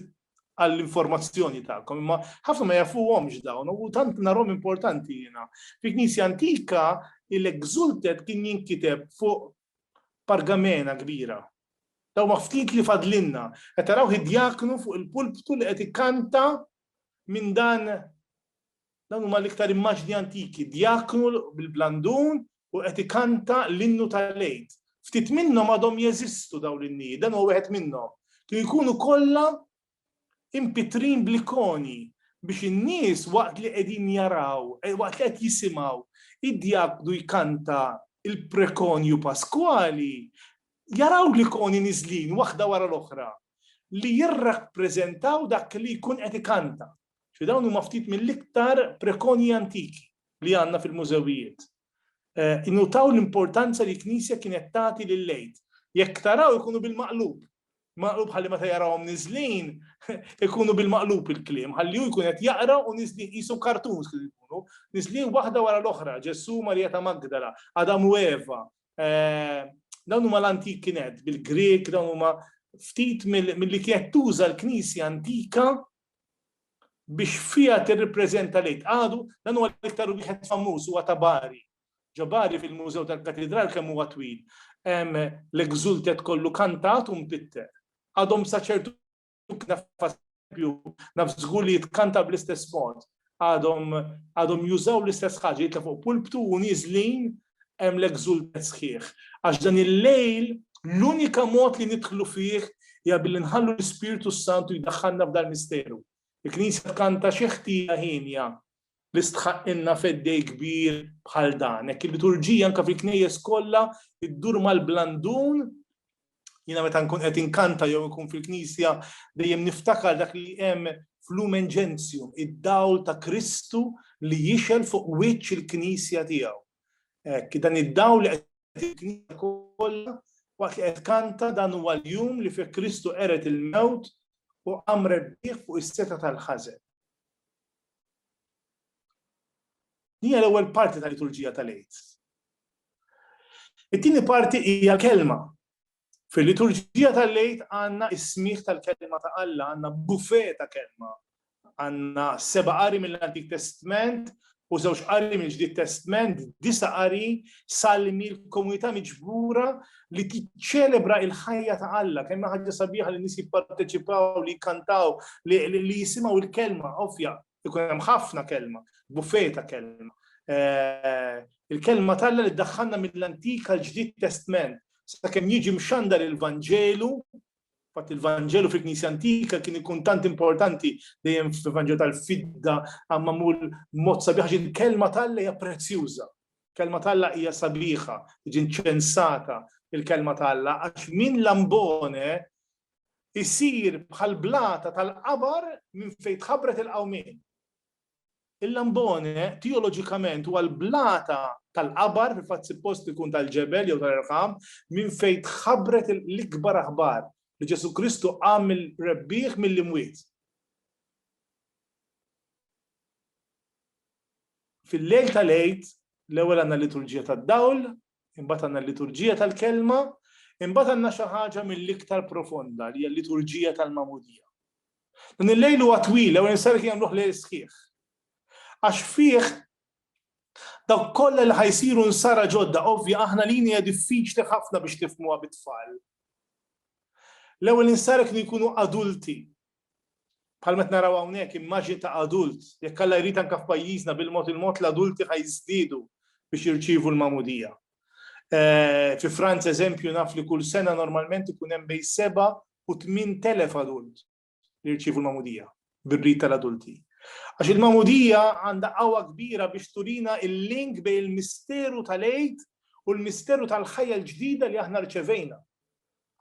għall-informazzjoni tagħkom, imma ħafna ma jafuhomx dawn, u tant narhom importanti jiena. Fil-Knisja antika, il-exultet kien jinkiteb fuq pargamena kbira. Daw ma ftit li fadlinna, qed taraw id-djaknu fuq il-pulptu li qed ikkanta minn dan Dawn huma l-iktar immaġni antiki, djaknu bil-blandun u qed ikanta l-innu tal-Għid. Ftit minnhom għadhom jeżistu dawn l-innijiet, dan huwa wieħed minnhom. Kienu jkunu kollha impitrin bl-ikoni biex in-nies waqt li qegħdin jaraw, eh, waqt li qed jisimgħu id-djaknu jkanta il-prekonju Paskwali, jaraw l-ikoni niżlin waħda wara l-oħra li jirrappreżentaw dak li jkun qed ikanta. Ġifieri dawn huma ftit mill-iktar prekonji antiki li għandna fil-mużewijiet. Innutaw l-importanza li l-Knisja kienet tagħti lill-Għid. Jekk taraw ikunu bil-maqlub. Maqlub ħalli meta jarawhom niżlin ikunu bil-maqlub il-kliem, ħalli hu jkun qed jaqra u niżlin qisu kartuns kif ikunu, niżlin waħda wara l-oħra, Ġesù, Marija ta' Magdala, Adam u Eva. Dawn huma l-antik kienet bil-Grieg, dawn huma ftit mill-li kienet tuża l-Knisja antika biex fiha tirripreżenta l-Għid. Għadu, dan huwa l-iktar wieħed famuż, huwa ta' Bari. Ġo Bari fil-Mużew tal-Katidral kemm huwa twil hemm l-Exultet kollu kantat u mpitter. Għadhom sa ċertu naf żgur li jitkanta bl-istess mod. għadhom għadhom jużaw l-istess ħaġa jitla' fuq pulptu u nieżlin hemm l-exultet sħiħ. Għax dan il-lejl l-unika mod li nidħlu fih hija billi nħallu l-Ispirtu s-Santu jdaħħalna f'dal misteru. Il-Knisja tkanta xi ħtija hienja li stħaqqilna feddej kbir bħal dan. Hekk il-liturġija anke fil-knejjes kollha iddur mal-blandun Jiena meta nkun qed inkanta jew nkun fil-Knisja dejjem niftakar dak li hemm f'Lumen Gentium, id-dawl ta' Kristu li jixel fuq wiċċ il-Knisja tiegħu. Hekk, dan id-dawl li qed il-Knisja kollha waqt li qed kanta dan huwa l-jum li fih Kristu qeret il-mewt u qam rebbieħ fuq is-seta tal-ħażen. Hija l-ewwel parti tal-liturġija tal-Għid. It-tieni parti hija l-Kelma. Fil-Liturġija tal-Għid għandna s-smigħ tal-Kelma ta' Alla, għandna buffet ta' Kelma. Għandna seba' qari mill-Antik Testment u żewġ qari mill-Ġdid Testment, disa' qari, salmi, l-komunità miġbura li tiċċelebra l-ħajja ta' Alla. Kemm hi ħaġa sabiħa li n-nies jipparteċipaw, li jikkantaw, li jisimgħu l-Kelma għofja Ikun hemm ħafna kelma, buffej ta' kelma. Eh, il-kelma talla li ddaħħalna mill-Antik għal ġdid Testment, sakemm jiġi mxandar il-Vanġelu, fatt il-Vanġelu fil-Knisja Antika kien ikun tant importanti dejjem fil-Vanġelu tal-fidda għamma mul mod sabiħ il-kelma talla hija prezzjuża. Kelma talla hija sabiħa, ġin ċensata il-kelma talla, għax minn lambone isir bħall-blata tal-qabar minn fejn tħabbret il-qawmien. Il-Lambone teoloġikament huwa l-blata tal-qabar, fil-fatt suppost ikun tal-ġebel jew tal-irħam, minn fejn tħabbret l-ikbar aħbar li Ġesù Kristu qam il-rebbieħ mill-imwiet. Fil-lejl tal-għid, l-ewwel għandna liturġija tad-dawl, imbagħad għandna l-liturġija tal-kelma, imbagħad għandna xi ħaġa mill-iktar profonda li hija l-liturġija tal-mamudija. Dan il-lejl huwa twila u nisar kien jagħmluh lejl sħiħ. Għax fih dawk kollha li ħajsiru nsara ġodda, ovvja aħna lini hija diffiċli ħafna biex tifmuha bit-tfal. L-ewwel insara kienu jkunu adulti, Bħalma qed naraw hawnhekk, immaġni ta' adult, jekk Alla jrid anke f'pajjiżna bil-mod il-mod l-adulti ħa jiżdiedu biex jirċievu l-magħmudija. Fi Franza eżempju naf li kull sena normalment ikun hemm bejn seba' u tmien telef adult li jirċievu l-magħmudija bir-rit tal-adulti. Għax il-magħmudija għandha qawwa kbira biex turina l-link bejn il-misteru tal-Għid u l-misteru tal-ħajja l-ġdida li aħna rċevejna.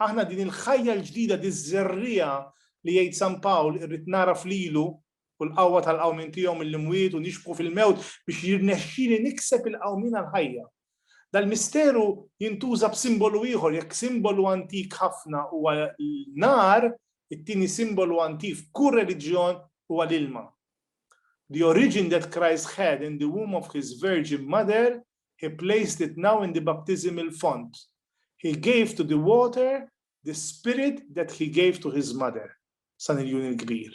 Aħna din il-ħajja l-ġdida, diż-żerriegħa li jgħid San Pawl irrid nagħraf lilu u l-qawwa tal-qawmien tiegħu mill-imwiet u nixbħu fil-mewt biex jirnexxili nikseb il-qawmien għall-ħajja. Dal-misteru jintuża b'simbolu ieħor, jekk simbolu antik ħafna huwa n-nar, it-tieni simbolu antik f'kull reliġjon huwa l-ilma. The origin that Christ had in the womb of his virgin mother He placed it now in the baptismal font. He gave to the water the spirit that he gave to his mother. San Iljun il-Kbir.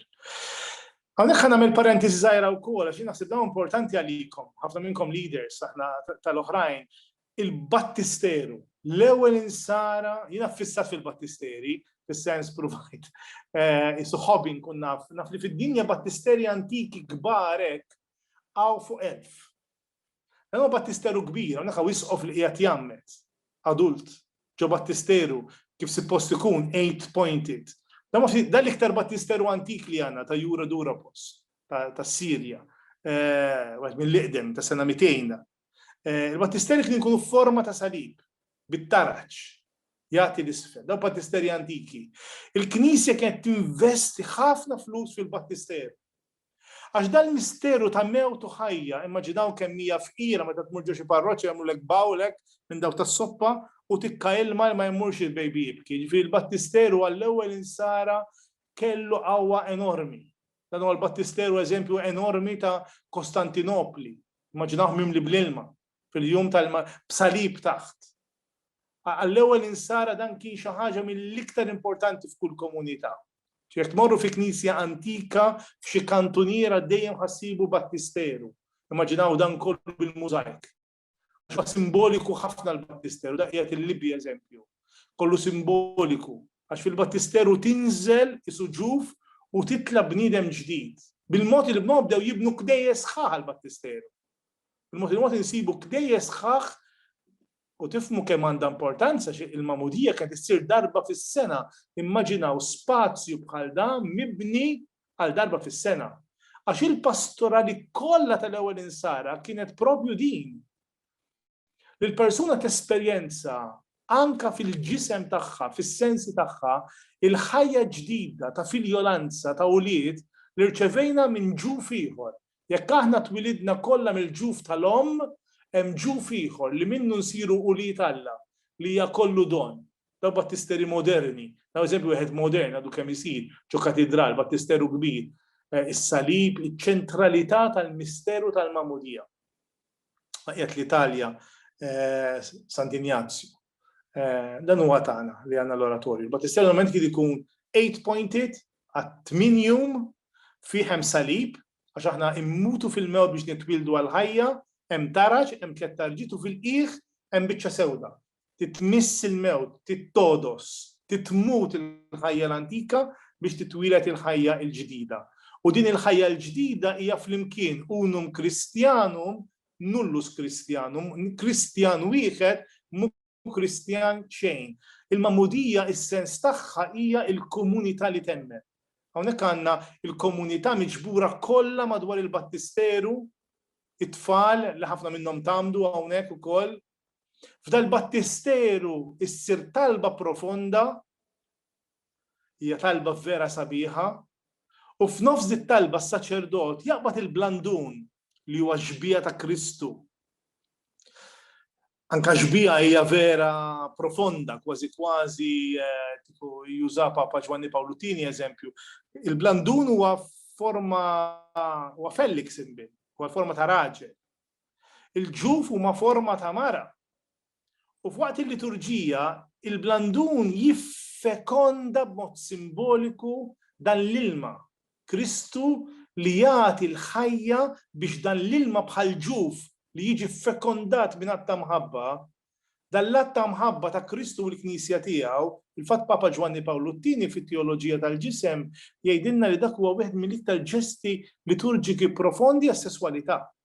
Għalhekk ħa nagħmel parentesi żgħira wkoll għax naħseb dawn importanti għalikom, ħafna minnkom leaders aħna tal-oħrajn, il-battisteru, l-ewwel insara, jiena fissat fil-battisteri, fis-sens provajt, eh, isu ħobin kun naf, naf li fid-dinja battisteri antiki kbarek għaw fuq elf. Hemm battisteru kbir, hawnhekk hawn isqof li qiegħed jgħammed, adult, ġo battisteru kif sippost ikun eight pointed. Dan ma dan l-iktar battisteru antik li għandna ta' Jura Durapos tas-Sirja, wieħed mill-iqdem ta' sena 200. Il-battisteri kien ikunu forma ta' salib bit-taraġ jagħti l-isfel, daw battisteri antiki. Il-Knisja kienet tinvesti ħafna flus fil-battisteru. Għax dal-misteru ta' mewt u ħajja, immaġi dawn kemm hija fqira meta tmur ġo xi parroċċa jagħmlulek bowl hekk minn dawk tas-soppa u tikka ilma li ma jmurx il-baby jibki. Jiġifieri l-battisteru għall-ewwel insara kellu qawwa enormi. Dan huwa l-battisteru eżempju enormi ta' Kostantinopli. Immaġinawh mimli bl-ilma. fil-jum tal b'salib taħt. Għall-ewwel insara dan kien xi ħaġa mill-iktar importanti f'kull komunità. Jekk tmorru fi knisja antika f'xi kantuniera dejjem ħassibu battisteru. Immaġinaw dan kollu bil-mużajk. Għax simboliku ħafna l-battisteru, da qiegħed il-Libja eżempju. Kollu simboliku. Għax fil-battisteru tinżel isuġuf u titla bniedem ġdid. Bil-mod il-bnod bdew jibnu kdejjes sħaħ l-battisteru. Il-mod il-mod insibu kdejjes sħaħ u tifmu kemm għandha importanza xi il-magħmudija kienet issir darba fis-sena. Immaġinaw spazju bħal da mibni għal darba fis-sena. Għax il-pastorali kollha tal-ewwel insara kienet propju din. Li l-persuna tesperjenza anka fil-ġisem tagħha, fis-sensi tagħha, il-ħajja ġdida ta' filjolanza ta' ulied li rċevejna minn ġuf ieħor, Jekk aħna twilidna kollha mill-ġuf tal-omm, hemm ġuf ieħor li minnu nsiru ulied Alla, li hija kollu don. Dawk battisteri moderni, nagħmel eżempju wieħed modern għadu kemm isir ġo katidral, battisteru kbir, is-salib, iċ-ċentralità tal-misteru tal-magħmudija. Qiegħed l-Italja Sant'Injazju. Dan huwa tagħna li għandna l-oratorju. Il-Batistell normalment kien ikun eight pointed għat tmien jum fih hemm salib għax aħna immutu fil-mewt biex nitwildu għal ħajja, hemm taraġ, hemm tliet tarġiet u fil-qiegħ hemm biċċa sewda. Titmiss il-mewt, tittodos, titmut il-ħajja l-antika biex titwieled il-ħajja l-ġdida. U din il-ħajja l-ġdida hija flimkien unum Christianum nullus Christianum, Kristjan wieħed mu Kristjan xejn. Il-magħmudija is-sens tagħha hija l-komunità li temmen. Hawnhekk għandna il-komunità miġbura kollha madwar il-battisteru, it-tfal li ħafna minnhom tamdu hawnhekk ukoll. F'dal-battisteru issir talba profonda Hija talba vera sabiħa, u f'nofs dit-talba s-saċerdot jaqbad il-blandun li huwa x-xbieha ta' Kristu. Anka xbieha hija vera profonda, kważi kważi kieku juża Papa Ġwanni Pawlu Tieni eżempju. Il-blandun huwa forma huwa fellix imbil, huwa forma ta' raġel. Il-ġuf huma forma ta' mara. U f'waqt il-liturġija, il-blandun jiffekonda b'mod simboliku dan l-ilma, Kristu li jagħti l-ħajja biex dan l-ilma bħal ġuf li jiġi ffekondat minn att ta' mħabba, dan l-att ta' mħabba ta' Kristu u l-Knisja tiegħu, fil-fatt Papa Ġwanni Pawlu t-Tieni fit-Teoloġija tal-Ġisem jgħidilna li dak huwa wieħed mill-iktar ġesti liturġiki profondi għas-sesswalità.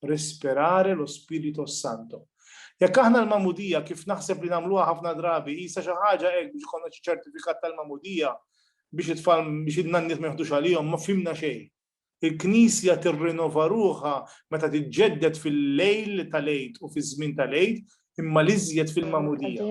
respirare lo Spirito Santo. Jekk aħna l-magħmudija kif naħseb li nagħmluha ħafna drabi qisha xi ħaġa hekk biex ikollna xi ċertifikat tal-magħmudija biex it-tfal biex in-nanniet ma jħdux għalihom ma fimna xejn. Il-Knisja tirrinova ruħha meta tiġġedded fil-lejl tal-Għid u fiż-żmien tal-Għid imma l-iżjed fil-magħmudija.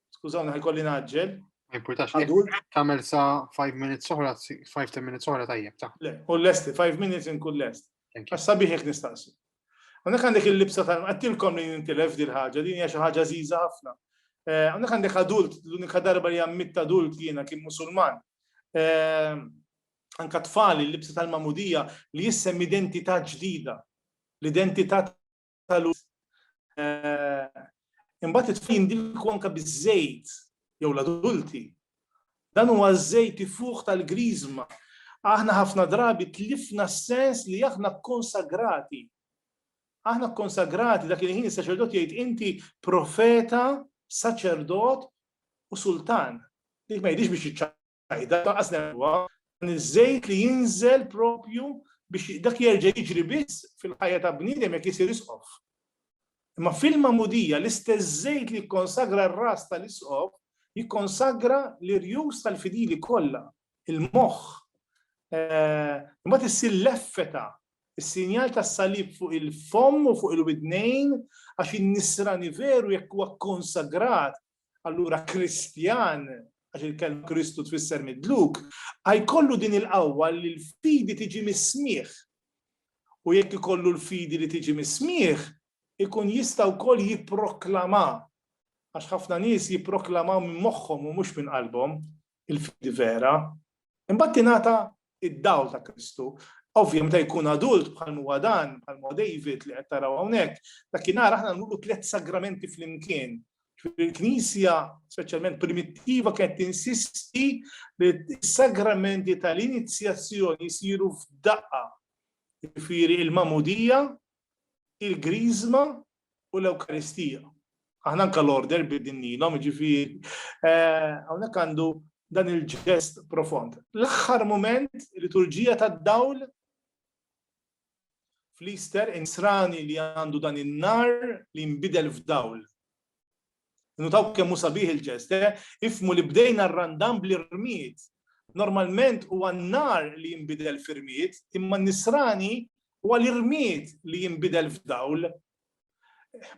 Skużawni ħajkolli naġġel. Ma jimpurtax, tagħmel sa 5 minutes oħra, 5-10 minutes oħra tajjeb ta'. Le, u l-lesti, 5 minutes inkun lest. Għax sabiħ jekk nistaqsi. Għandek għandek il-libsa tal għattilkom li nintilef di l-ħagġa, din hija xi ħaġa żiża ħafna. Eh, għandek għandek adult, l-unika darba li għammit adult jiena kien musulman. Eh, anka tfali l-libsa tal-mamudija li jissem identità ġdida. L-identità tal-uż eh, imbagħad it-tfal jindilku anke biż-żejt jew l-adulti. Dan huwa ż-żejt ifuħ tal-griżma. Aħna ħafna drabi tlifna s-sens li aħna konsagrati. Aħna konsagrati dak il-ħin is-saċerdot jgħid inti profeta, saċerdot u sultan. Dik ma jidix biex sajda taqas nerwa dan iż-żejt li jinżel propju biex dak jerġa' jiġri biss fil-ħajja ta' bniedem jekk isir isqof. Imma fil-magħmudija l-istess żejt li jikkonsagra r-ras tal-isqof jikkonsagra l-irjus tal-fidili kollha, il-moħħ. Imbagħad issir l-effeta, is-sinjal tas-salib fuq il-fomm u fuq il-widnejn għax in-nisrani veru jekk huwa konsagrat Allura Kristjan, għax il-kelm Kristu tfisser midluk, għajkollu din il-qawwa li l-fidi tiġi mis-smieħ. U jekk ikollu l-fidi li tiġi mis-smieħ, ikun jista' wkoll jipproklama. Għax ħafna nies jipproklamaw minn moħħhom u mhux minn qalbhom, il-fidi vera, imbagħad tingħata id-dawl ta' Kristu. Ovvja, meta jkun adult bħal huwa dan, bħal huwa David li qed taraw hawnhekk, dakinhar aħna nuru tliet sagramenti flimkien. Il-Knisja, speċjalment primittiva, kienet tinsisti li s-sagramenti tal-inizjazzjoni jsiru f'daqqa. Jiġifieri il-mamudija, il-griżma u l-Ewkaristija. Aħna anke l-order bidilnielhom, jiġifieri hawnhekk għandu dan il-ġest profond. L-aħħar mument liturġija tad-dawl fl-Easter insrani li għandu dan in-nar li nbidel f'dawl. Nutaw kemm hu sabiħ il-ġest, eh? Ifhmu li bdejna r-Randan bl-irmied. Normalment huwa n-nhar li jinbidel f'irmied, imma n-Nisrani huwa l-irmied li jinbidel f'dawl.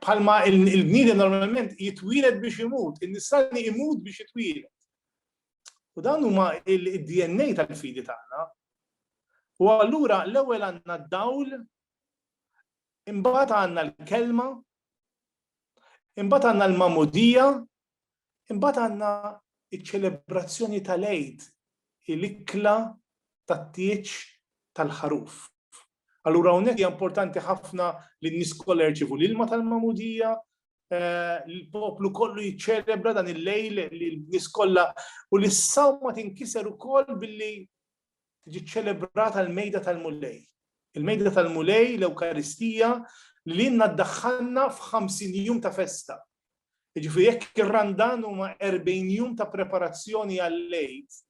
Bħalma l-bniedem normalment jitwieled biex imut, in-Nisrani imut biex jitwieled. U dan huma il-DNA tal-fidi tagħna. U allura l-ewwel għandna d-dawl, imbagħad għandna l-kelma, Imbagħad għandna l-Magħmudija, imbagħad għandna ċ-ċelebrazzjoni tal-Għid, il-ikla tat-tieġ tal-ħaruf. Allura hawnhekk hija importanti ħafna li n-nies kollha jirċievu l-ilma tal-Magħmudija, eh, l-poplu kollu jiċċelebra dan il-lejl li l-nies kollha u l-sawma tinkiser ukoll billi tiġi ċċelebrata l-mejda tal-Mulej. Il-mejda tal-Mulej, l-Ewkaristija, li l-inna ddaħħalna f'50 jum ta' festa. Ġifieri jekk ir-Randan huma 40 jum ta' preparazzjoni għal-lejt,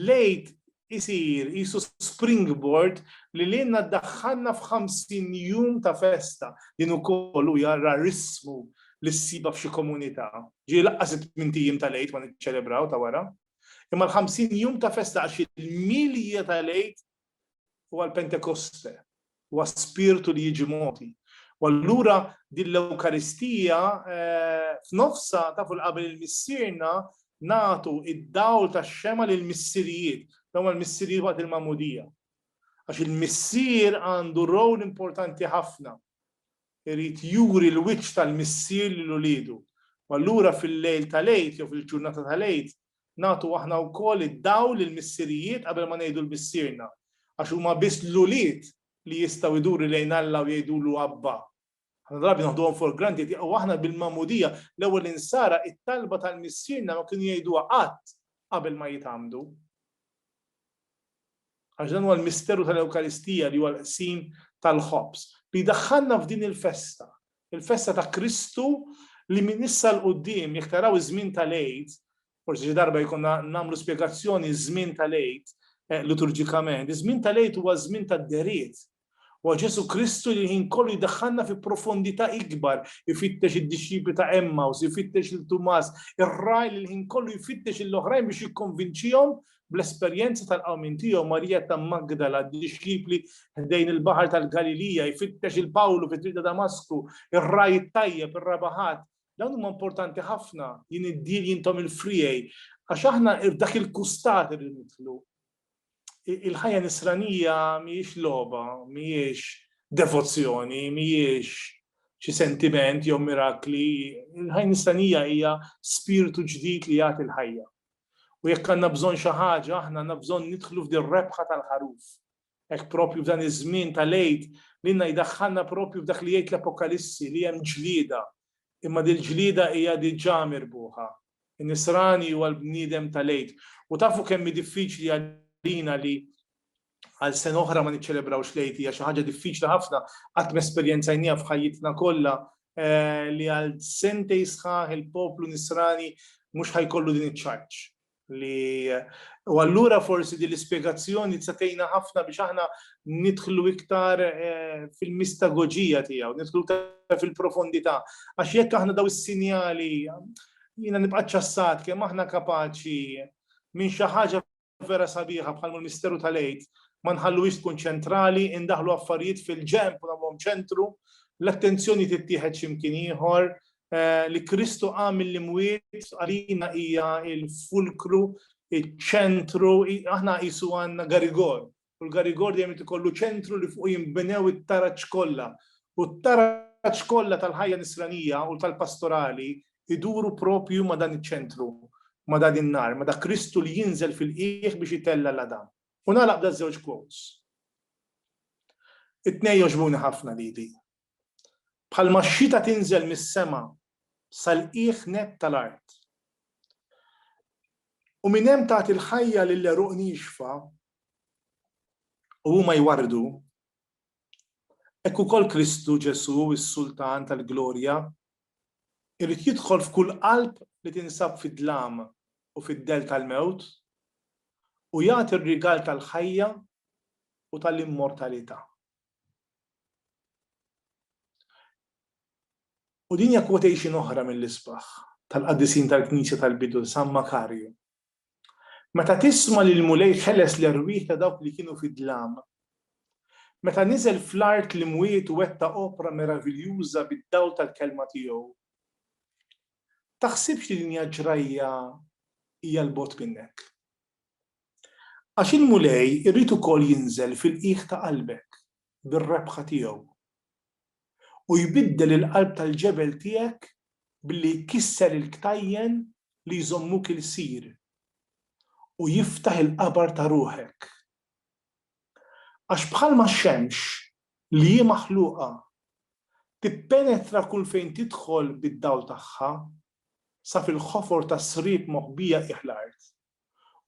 lejt isir isu springboard li l-inna ddaħħalna f'50 jum ta' festa. Din ukoll u jarra rismu li ssiba f'xi komunità. Ġieli laqqas it-tmintijiem tal-lejt ma niċċelebraw ta' wara. Imma l-ħamsin jum ta' festa għax il-milja tal-Għid huwa l-Pentekoste, huwa spirtu li jiġi mogħti. U allura din l-Ewkaristija eh, f'nofsa ta' fuq qabel il-missierna nagħtu id-dawl tax-xema lil missirijiet, dawn l-missirijiet waqt il-mamudija. Għax il-missier għandu rol importanti ħafna. Irid juri l-wiċċ tal-Missier lil uliedu. U allura fil-lejl tal-Għid jew fil-ġurnata tal-Għid nagħtu aħna wkoll id-dawl lill-missirijiet qabel ma ngħidu l-Missierna. Għax huma biss l-ulied li jistgħu jduru lejn Alla u jgħidulu Abba. Ħafna drabi naħduhom for granted u aħna bil-Magħmudija, l-ewwel Insara, it-talba tal-Missierna ma kienu jgħiduha qatt qabel ma jitgħammdu. Għax dan huwa l-misteru tal-Ewkaristija li huwa l-qsim tal-ħobż li jdaħħalna f'din il-festa, il-festa ta' Kristu li minn issa 'l quddiem jekk taraw iż-żmien tal-Għid, forsi xi darba jkollna nagħmlu spjegazzjoni ż-żmien tal-Għid liturġikament, iż-żmien tal-Għid huwa żmien tad-dehriet, Huwa Ġesù Kristu li l-ħin kollu jdaħħalna fi profondità ikbar, ifittex id-dixxipli ta' Emmaus, ifittex lil Tumas, ir-ragħaj li l-ħin kollu jfittex lill-oħrajn biex jikkonvinċihom bl-esperjenza tal-qawmien tiegħu, Marija ta' Magdala, d-dixxipli ħdejn il-baħar tal-Galilija, jfittex il Pawlu fit-triq ta' Damasku, ir-ragħaj it-tajjeb, ir-raba' ħadd. Dawn huma importanti ħafna, jien id-dil jintom il-friegħi, għax aħna f'dak il-kustat irridu nidħlu. il-ħajja nisranija mhijiex logħba, mhijiex devozzjoni, mhijiex xi sentiment jew mirakli, il-ħajja nisranija hija spirtu ġdid li jagħti l-ħajja. U jekk għandna bżonn xi ħaġa, aħna għandna bżonn nidħlu f'din rebħa tal-ħaruf. Hekk propju f'dan iż-żmien tal-għid li nna jdaħħalna propju f'dak li jgħid l-Apokalissi li hemm ġlieda, imma dil-ġlieda hija diġà mirbuħa. Nisrani huwa l-bniedem tal-Għid. U tafu kemm hi diffiċli għalina li għal sena oħra ma niċċelebrawx l-Għid, hija xi ħaġa diffiċli ħafna, qatt m'esperjenzajnieha f'ħajjitna kollha eh, li għal sentej sħaħ il-poplu Nisrani mhux ħajkollu din iċ-ċarċ li u allura forsi din l-ispjegazzjoni tista' tgħinna ħafna biex aħna nidħlu iktar fil-mistagoġija tiegħu, nidħlu iktar fil-profondità. Għax jekk aħna daw is-sinjali, jiena nibqa' ċassat kemm aħna kapaċi minn xi ħaġa vera sabiħa bħal misteru tal-għid, ma nħalluhiex tkun ċentrali, indaħlu affarijiet fil-ġenb u nagħmluhom ċentru, l-attenzjoni tittieħed x'imkien ieħor, li Kristu qam mill-imwiet għalina hija l-fulkru, iċ-ċentru, aħna qisu għandna garigol u l-Garigor dejjem irid ikollu ċentru li fuqu jinbnew it-taraġ kollha. U t-taraġ kollha tal-ħajja nisranija u tal-pastorali jduru proprju ma' dan iċ-ċentru, ma' dan in-nar, ma' dak Kristu li jinżel fil-qiegħ biex itella' l-għadam. U nagħlaq b'daż-żewġ quotes. It-tnejn jogħġbuni ħafna lili. bħalma x-xita tinżel mis-sema sal-qiegħ nett tal-art, u minn hemm tagħti l-ħajja lill-għeruq niexfa u huma jwarrdu, hekk ukoll Kristu Ġesù, is-Sultan tal-glorja, irid jidħol f'kull qalb li tinsab fid-dlam u fid-dell tal-mewt u jagħti r-rigal tal-ħajja u tal-immortalità. U din hija quotation oħra mill-isbaħ tal-qaddisin tal-Knisja tal-bidu, San Makarju. Meta tisma' li l-Mulej ħeles l-erwieħ ta' dawk li kienu fid-dlam, meta niżel fl-art l-imwiet u wettaq opra meraviljuża bid-dawl tal-kelma tiegħu, taħsibx li din hija ġrajja hija 'l bogħod minnek. Għax il-Mulej irid ukoll jinżel fil-qiegħ ta' qalbek bir-rebħa tiegħu, u jbiddel il-qalb tal-ġebel tiegħek billi jkisser il-ktajjen li jżommuk ilsir, u jiftaħ il-qabar ta' ruħek. Għax bħalma x-xemx, li hi maħluqa, tippenetra kull fejn tidħol bid-dawl tagħha, sa fil-ħofor tas-sriep moħbija qiegħ l-art,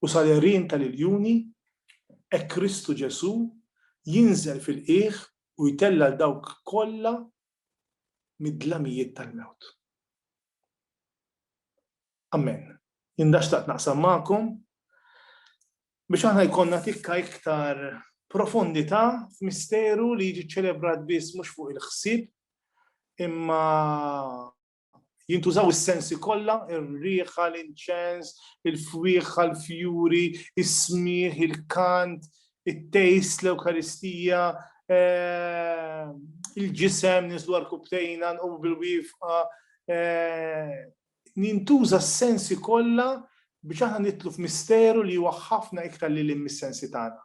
u sal-għerien tal-iljuni, hekk Kristu Ġesù jinżel fil-qiegħ u jtella' 'l dawk kollha mid-dlamijiet tal-mewt. Amen. Jien dan xtaqt naqsam magħkom biex aħna jkollna tikka iktar profondità f'misteru li jiġi ċċelebrat biss mhux fuq il-ħsieb imma Jintużaw is-sensi kollha, ir-riħa, l-inċens, il-fwieħħa, l-fjuri, is-smigħ, il-kant, it-tejst, l-Ewkaristija, eh, il-ġisem, nislu għal-kubtejna, nqomu bil-wifqa. Eh, jintuża s-sensi kollha biex aħna nitlu f'misteru li huwa ħafna iktar li l-mis-sensi tagħna.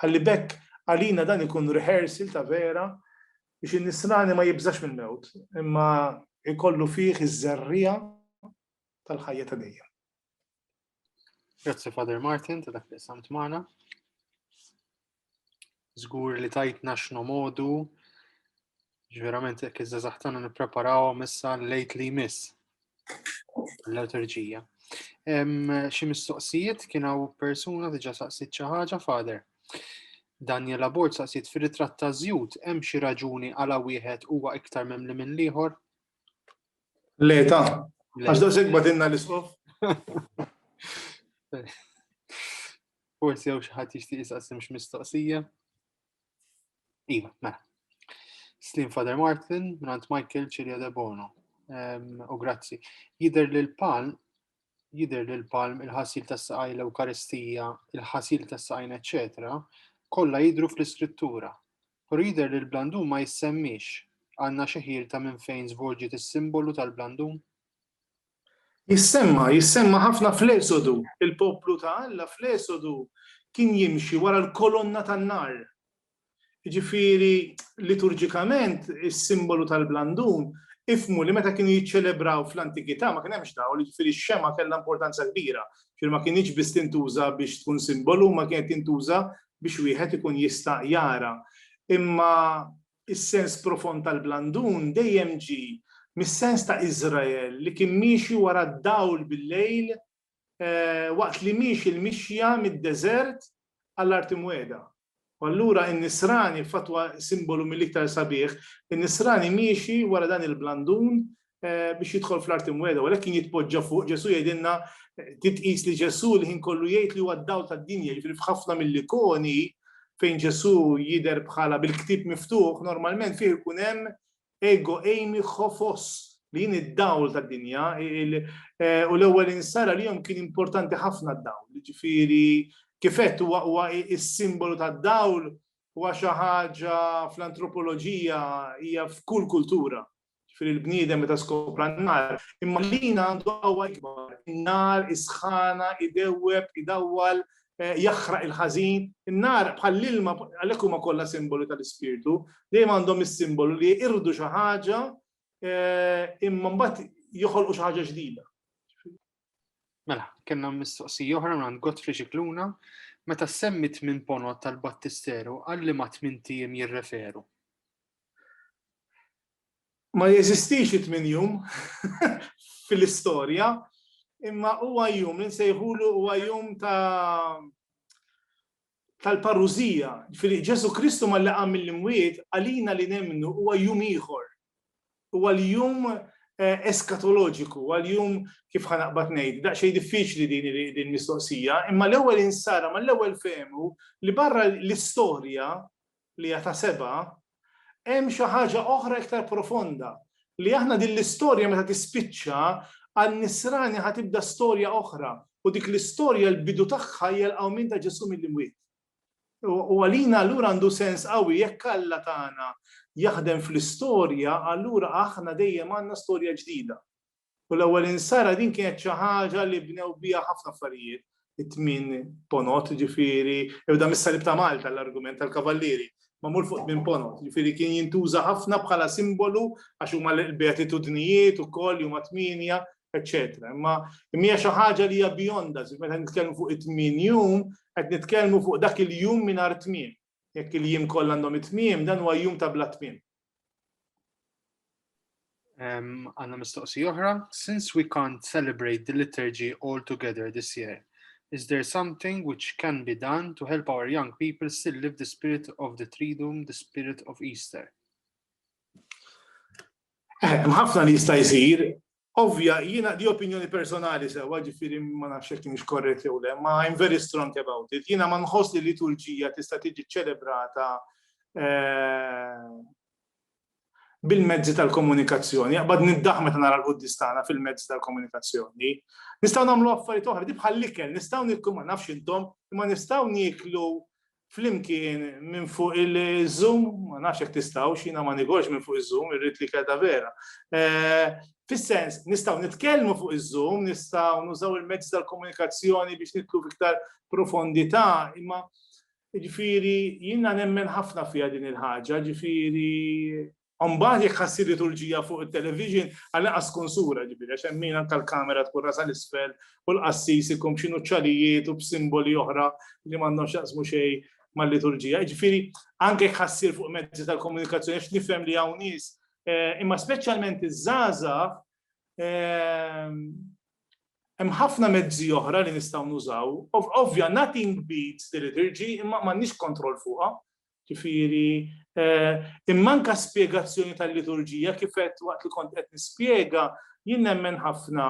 Ħalli b'hekk għalina dan ikun rehearsal ta' vera biex in-Nisrani ma jibżax mill-mewt, imma jkollu fih iż-żerriegħa tal-ħajja ta' dejjem. Grazzi Father Martin ta' dak li samt magħna. Żgur li tajtna x'nomodu Ġverament, jekk iż-żazax tagħna nippreparawhom issa lejt li jmiss l-liturġija. Xi mistoqsijiet kien hawn persuna diġà saqsit xi ħaġa fader. Daniel Abort saqsit fir-ritratt ta' żjud hemm xi raġuni għala wieħed huwa iktar memli minn l-ieħor? Le ta' għax da segba dinna l-isqof. Forsi jew xi ħadd jixtieq jisaqsim x'mistoqsija. Iva, mela. Slim Father Martin, Grant Michael, Cilia De Bono. U grazzi. Jider li l-palm, jider li l-palm, il-ħasil tas saqaj l-Eukaristija, il-ħasil tas saqajn eccetera, kolla jidru fl-iskrittura. Pero jider li l-blandum ma jissemmix għanna xeħir ta' minn fejn zvolġiet is-simbolu tal-blandum? Jissemma, jissemma ħafna fl-Esodu. Il-poplu ta' Alla fl-Esodu kien jimxi wara l-kolonna tan-nar. Jiġifieri, liturġikament, is-simbolu tal-blandun, ifhmu li meta kienu jiċċelebraw fl-antikità ma kien hemmx dawl, jiġifieri x-xemgħa kellha importanza kbira. Jiġifieri ma kinitx biss tintuża biex tkun simbolu imma kienet tintuża biex wieħed ikun jista' jara. Imma Is-sens profond tal-blandun dejjem ġie mis-sens ta' Iżrael li kien miexi wara d-dawl bil-lejl waqt li miexi l-mixja mid-deżert għall-Art Imwiegħda. U allura n-Nisrani, f'fatwa simbolu mill-iktar sabiħ, in-Nisrani miexi wara dan il-blandun biex jidħol fl-art imweda, u għalhekk kien jitpoġġa fuq Ġesu jgħidilna titqis li Ġesu l-ħin kollu jgħid li huwa d-dawl tad-dinja, jiġifieri f'ħafna mill-ikoni fejn Ġesu jidher bħala bil-ktieb miftuħ, normalment fih ikun hemm ego eimi ħofos li jien id-dawl tad-dinja, u l-ewwel insara li jom kien importanti ħafna d-dawl, jiġifieri kifet huwa is-simbolu tad-dawl huwa xi ħaġa fl-antropoloġija hija f'kull kultura ġifieri l-bniedem meta skopra n-nar, imma lina għandu qawwa ikbar. In-nar isħana, idewweb, idawwal, eh, jaħraq il-ħażin. In-nar bħall-ilma għalhekk huma kollha simbolu tal-ispirtu, dejjem għandhom is-simbolu li jirdu xi ħaġa eh, imma mbagħad joħolqu xi ħaġa ġdida. Mela, kellna mistoqsija oħra minn Godfrey Xikluna, meta semmit minn ponot tal-Battisteru għalli ma tmintijiem jirreferu. Ma jeżistix it-tmien jum fil-istorja, imma huwa jum li nsejħulu huwa jum ta' tal-parużija. Ġifieri Ġesù Kristu malli qam mill-imwiet għalina li nemmnu huwa jum ieħor. Huwa l-jum eskatoloġiku, huwa l-jum kif ħa naqbad ngħid, daqsxejn diffiċli din il-mistoqsija, imma l-ewwel insara, mal-ewwel fehmu li barra l-istorja li hija ta' sebgħa, hemm xi ħaġa oħra iktar profonda, li aħna din l-istorja meta tispiċċa, għan-nisrani ħa tibda storja oħra, u dik l-istorja l-bidu tagħha hija l-qawmien ta' Ġesù mill-imwiet. U għalina allura għandu sens qawwi jekk Alla tagħna jaħdem fl-istorja, allura aħna dejjem għandna storja ġdida. U l-ewwel insara din kienet xi ħaġa li bnew biha ħafna affarijiet, it-tmien ponot, jiġifieri, ibda mis-salib ta' Malta l-argument tal-kavallieri, magħmul fuq tmien ponot, jiġifieri kien jintuża ħafna bħala simbolu għax huma l-beatitudnijiet ukoll li huma tmienja, eċċetera. Imma hija xi ħaġa li hija beyond us, meta nitkellmu fuq it-tmien jum, qed nitkellmu fuq dak il-jum mingħajr tmiem. Jekk il-jiem kollha għandhom it-tmiem, dan huwa jum ta' bla tmiem. Għanna mistoqsi oħra. Since we can't celebrate the liturgy all together this year, is there something which can be done to help our young people still live the spirit of the Triduum, the spirit of Easter? Eh, mħafna li jista' jsir, Ovvja, jiena di opinjoni personali sewwa, ġifieri ma nafx jekk kienx korrett jew le, ma I'm very strong about it. Jiena ma nħoss li liturġija tista' tiġi ċċelebrata bil-mezzi tal-komunikazzjoni, jaqbad niddaħ meta nara l-quddis tagħna fil-mezzi tal-komunikazzjoni. Nistgħu nagħmlu affarijiet oħra, di bħal-ikel, nistgħu nikku ma nafx intom, imma nistgħu nieklu flimkien minn fuq il-Zoom, ma nafx jekk tistgħux, jiena ma nigorx minn fuq iż-Zoom, irrid li kelta vera. Eh, fis-sens, nistgħu nitkellmu fuq iż-Zoom, nistgħu nużaw il-mezz tal-komunikazzjoni biex nitlu fiktar profondità, imma ġifieri jiena nemmen ħafna fiha din il-ħaġa, ġifieri Mbagħad jekk ħassir liturġija fuq it-television, għall-inqas tkun sura, ġifieri, għax hemm min anke l-kamera tkun rasha 'l isfel u l-qassis ikun b'xi nuċċalijiet u b'simboli oħra li m'għandhom x'jaqsmu xejn mal-liturġija. Jiġifieri, anke jekk ħassir fuq mezzi tal-komunikazzjoni, għax nifhem li hawn nies, imma speċjalment iż-żgħażagħ, hemm ħafna mezzi oħra li nistgħu nużaw. Ovvja, nothing beats the liturgy, imma m'għandniex kontroll fuqha. Ġifieri, immanka spjegazzjoni tal-liturġija, kif għedt waqt li kont qed nispjega, jien nemmen ħafna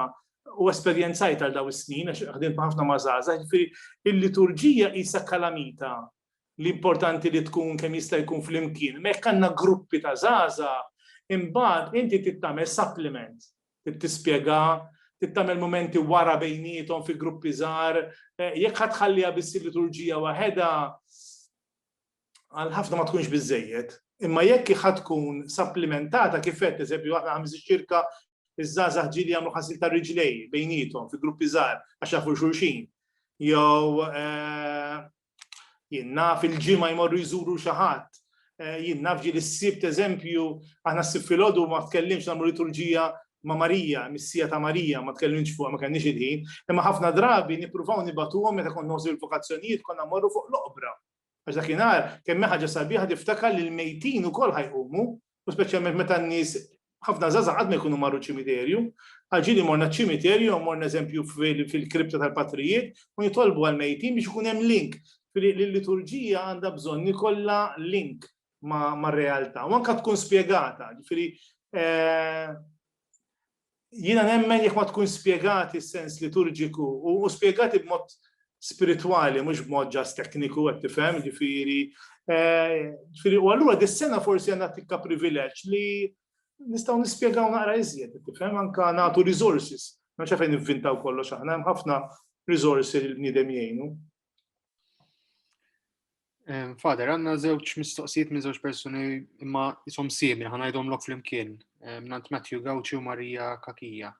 u esperjenzajt għal dawn is-snin għax ħdimt ħafna ma' żgħażagħ, ġifieri il-liturġija qisha kalamita li importanti li tkun kemm jista' jkun flimkien. Mekk għandna gruppi ta' żgħażagħ, imbagħad inti trid tagħmel supplement, trid tispjega, trid tagħmel mumenti wara bejniethom fi gruppi żgħar, jekk ħa tħalliha biss il-liturġija waħedha, għal ħafna ma tkunx biżejjed, imma jekk iħad tkun supplementata kif qed eżempju aħna ħames ċirka iż-żgħażagħ ġieli jagħmlu ħasil ta' riġlej bejnietom fi gruppi żgħar għax jafu xulxin. Jew eh, jien naf il-ġimgħa jmorru jżuru xi ħadd. Eh, jien naf ġieli s-sibt eżempju aħna s-sibt filgħodu ma tkellimx nagħmlu liturġija ma' Marija, missija ta' Marija, ma tkellimx fuq ma kellniex il-ħin, imma ħafna drabi nippruvaw nibatuhom meta kont noħsu l-vokazzjonijiet konna morru fuq l-oqbra. Għax dakinhar kemm ħaġa sabiħa tiftakar li l-mejtin ukoll ħajqumu, u speċjalment meta n-nies ħafna żgħażagħ qatt ma jkunu marru ċimiterju. Għal ġieli morna ċ-ċimiterju, morna eżempju fil-kripta tal-patrijiet u nitolbu għall-mejtin biex ikun hemm link. Li l-liturġija għandha bżonn ikollha link mar-realtà u anke tkun spjegata. Ġifieri eh, jiena nemmen jekk ma tkun spjegati s-sens liturġiku u spjegati b'mod spiritwali, mhux b'mod ġas tekniku qed tifhem, ġifieri. Eh, ġifieri u allura dis-sena forsi għandna tikka privileġġ li nistgħu nispjegaw naqra iżjed, tifhem anke nagħtu resources. Ma xafejn nivvintaw kollox aħna, hemm ħafna resources li l-bniedem jgħinu. Fader, għanna zewċ mistoqsijiet minn zewċ personi imma jisom simil, ħanajdom lok fl-imkien, nant Matthew Gauci u Marija Kakija.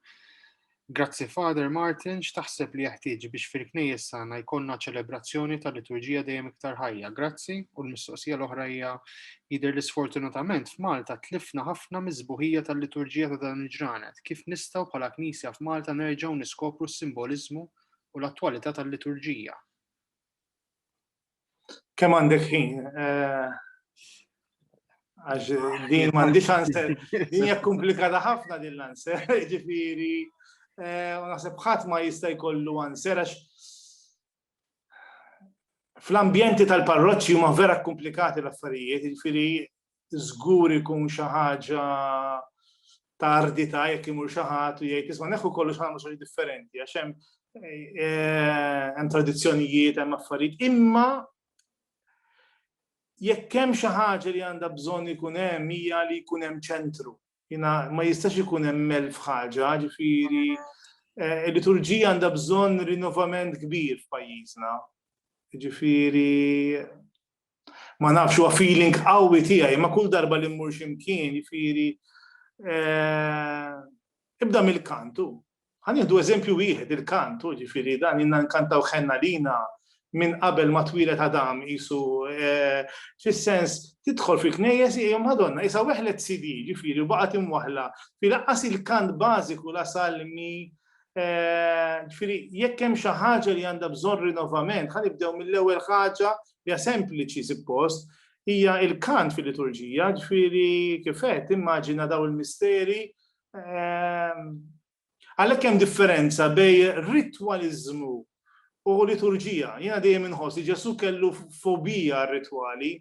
Grazzi Fader Martin, x'taħseb li jeħtieġ biex fil-knejjes sana jkollna ċelebrazzjoni tal-liturġija dejjem iktar ħajja. Grazzi u l-mistoqsija l-oħra hija jidher li sfortunatament f'Malta tlifna ħafna miżbuħija tal-liturġija ta' dan il-ġranet. Kif nistgħu bħala Knisja f'Malta nerġgħu niskopru s-simboliżmu u l-attwalità tal-liturġija. Kemm għandek ħin? Eh, għax din m'għandix answer. Din hija komplikata ħafna din l-answer, ġifieri eh, u naħseb ħadd ma jista' jkollu answer għax fl-ambjenti tal-parroċċi huma vera komplikati l-affarijiet, ġifieri żgur ikun xi ħaġa ta' ardita jekk imur xi ħadd u jgħid isma' neħu kollox ħamu xi differenti għax hemm eh, hemm tradizzjonijiet, hemm affarijiet, imma jekk hemm xi ħaġa li għandha bżonn ikun hemm hija li jkun hemm ċentru. Jina ma jistax ikun hemm elf ħaġa, ġifieri eh, il-liturġija għandha bżonn rinnovament kbir f'pajjiżna. Ġifieri Ma nafx huwa feeling qawwi tiegħi, ma kull darba li mmur x'imkien, jifieri eh, ibda mill-kantu. Ħan jieħdu eżempju wieħed il-kantu, ġifieri dan inna nkantaw ħenna lina minn qabel ma twilet Adam isu eh, fis-sens tidħol fil-knejjes hija Madonna isa weħlet CD ġifieri baqgħet imwaħla fi laqqas il-kant bażiku la salmi eh, ġifieri jekk hemm xi ħaġa li għandha bżonn rinnovament ħanibdew mill-ewwel ħaġa Hija sempliċi suppost, hija il-kant fil-liturġija, ġifieri kif qed immaġina daw il-misteri. Ehm, għalhekk hemm differenza bejn ritwaliżmu u liturġija. Jiena dejjem inħoss li Ġesu kellu fobija rritwali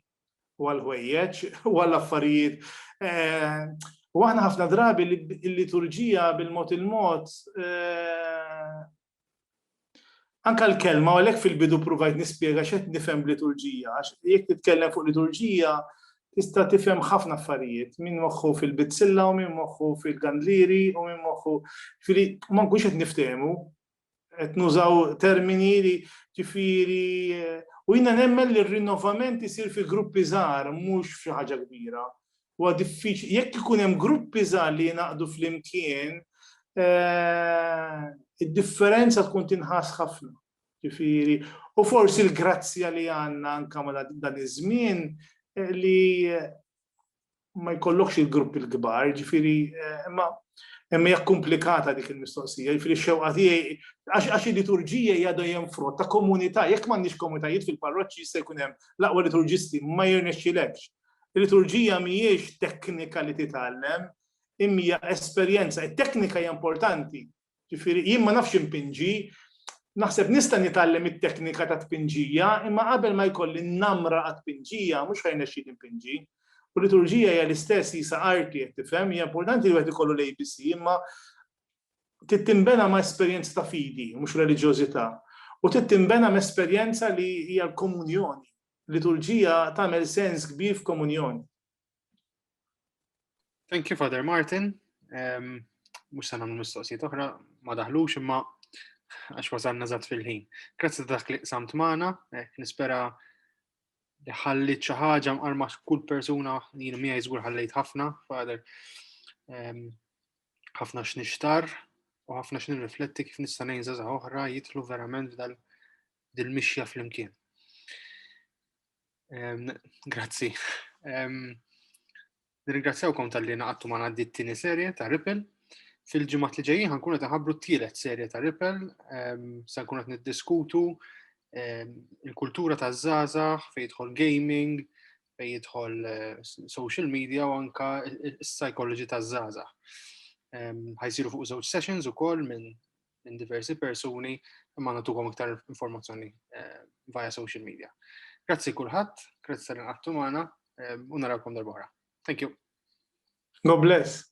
u għal-ħwejjeġ u għall-affarijiet. Ehm, u aħna ħafna drabi l-liturġija bil-mod il-mod ehm, Anke l-kelma, u għalhekk fil-bidu pruvajt nispjega x'qed nifhem b'liturġija, għax jekk titkellem fuq liturġija tista' tifhem ħafna affarijiet, min moħħu fil-bizzilla u min moħħu fil-gandlieri u min moħħu, ġifieri ma nkunx qed niftehmu, qed nużaw termini li ġifieri u jiena nemmen li r-rinnovament isir fi gruppi żgħar mhux f'xi ħaġa kbira. Huwa diffiċli, jekk ikun hemm gruppi żgħar li jingħaqdu flimkien, eh, id-differenza tkun tinħass ħafna. Ġifieri, u forsi l-grazzja li għandna anke ma dan iż-żmien eh, li eh, ma jkollokx il-grupp il-kbar, ġifieri, imma hemm hija komplikata dik il-mistoqsija, ġifieri xewqa tiegħi għax il-liturġija hija dejjem frott ta' komunità, jekk m'għandniex komunitajiet fil-parroċċi jista' jkun hemm l-aqwa liturġisti ma jirnexxilekx Il-liturġija mhijiex teknika li titgħallem, imma hija esperjenza. It-teknika hija importanti. Ġifieri jien ma nafx inpinġi, naħseb nista' nitgħallem it-teknika ta' tpinġija, imma qabel ma jkolli n-namra għat-tpinġija mhux ħa jnexxini npinġi. U liturġija hija l-istess jisa arti qed tifhem, hija importanti li wieħed ikollu l-ABC, imma trid tinbena ma' esperjenza ta' fidi, mhux reliġjożità. U trid tinbena ma' esperjenza li hija l-komunjoni, Liturġija tagħmel sens kbir f'komunjoni. Thank you, Father Martin. Um, mux sa namlu mistoqsijiet oħra, ma daħlux imma għax wasalna zat fil-ħin. Grazzi ta' dak li samt maħna, eh, nispera li ħallit xi ħaġa mqarma kull persuna jien mija jiżgur ħallejt ħafna, fader ehm, ħafna x'nixtar u ħafna x'nirrifletti kif nista' ngħin żgħażagħ oħra jitlu verament f'dal dil-mixja flimkien. Grazzi. Nirringrazzjawkom tal-li naqattu ma għaddi t-tini serje ta' Ripple. Fil-ġimgħat li ġejjin ħankun qed ħabru t-tielet serje ta' Ripple, se nkun qed niddiskutu il-kultura ta' żgħażagħ fejn jidħol gaming, fejn jidħol eh, social media u anka s-psychology ta' żgħażagħ. Ħajsiru fuq żewġ sessions ukoll minn minn diversi persuni imma natukom iktar informazzjoni eh, via social media. Grazzi kulħadd, grazzi tal inqattu magħna eh, u narawkom darbora. Thank you. God bless.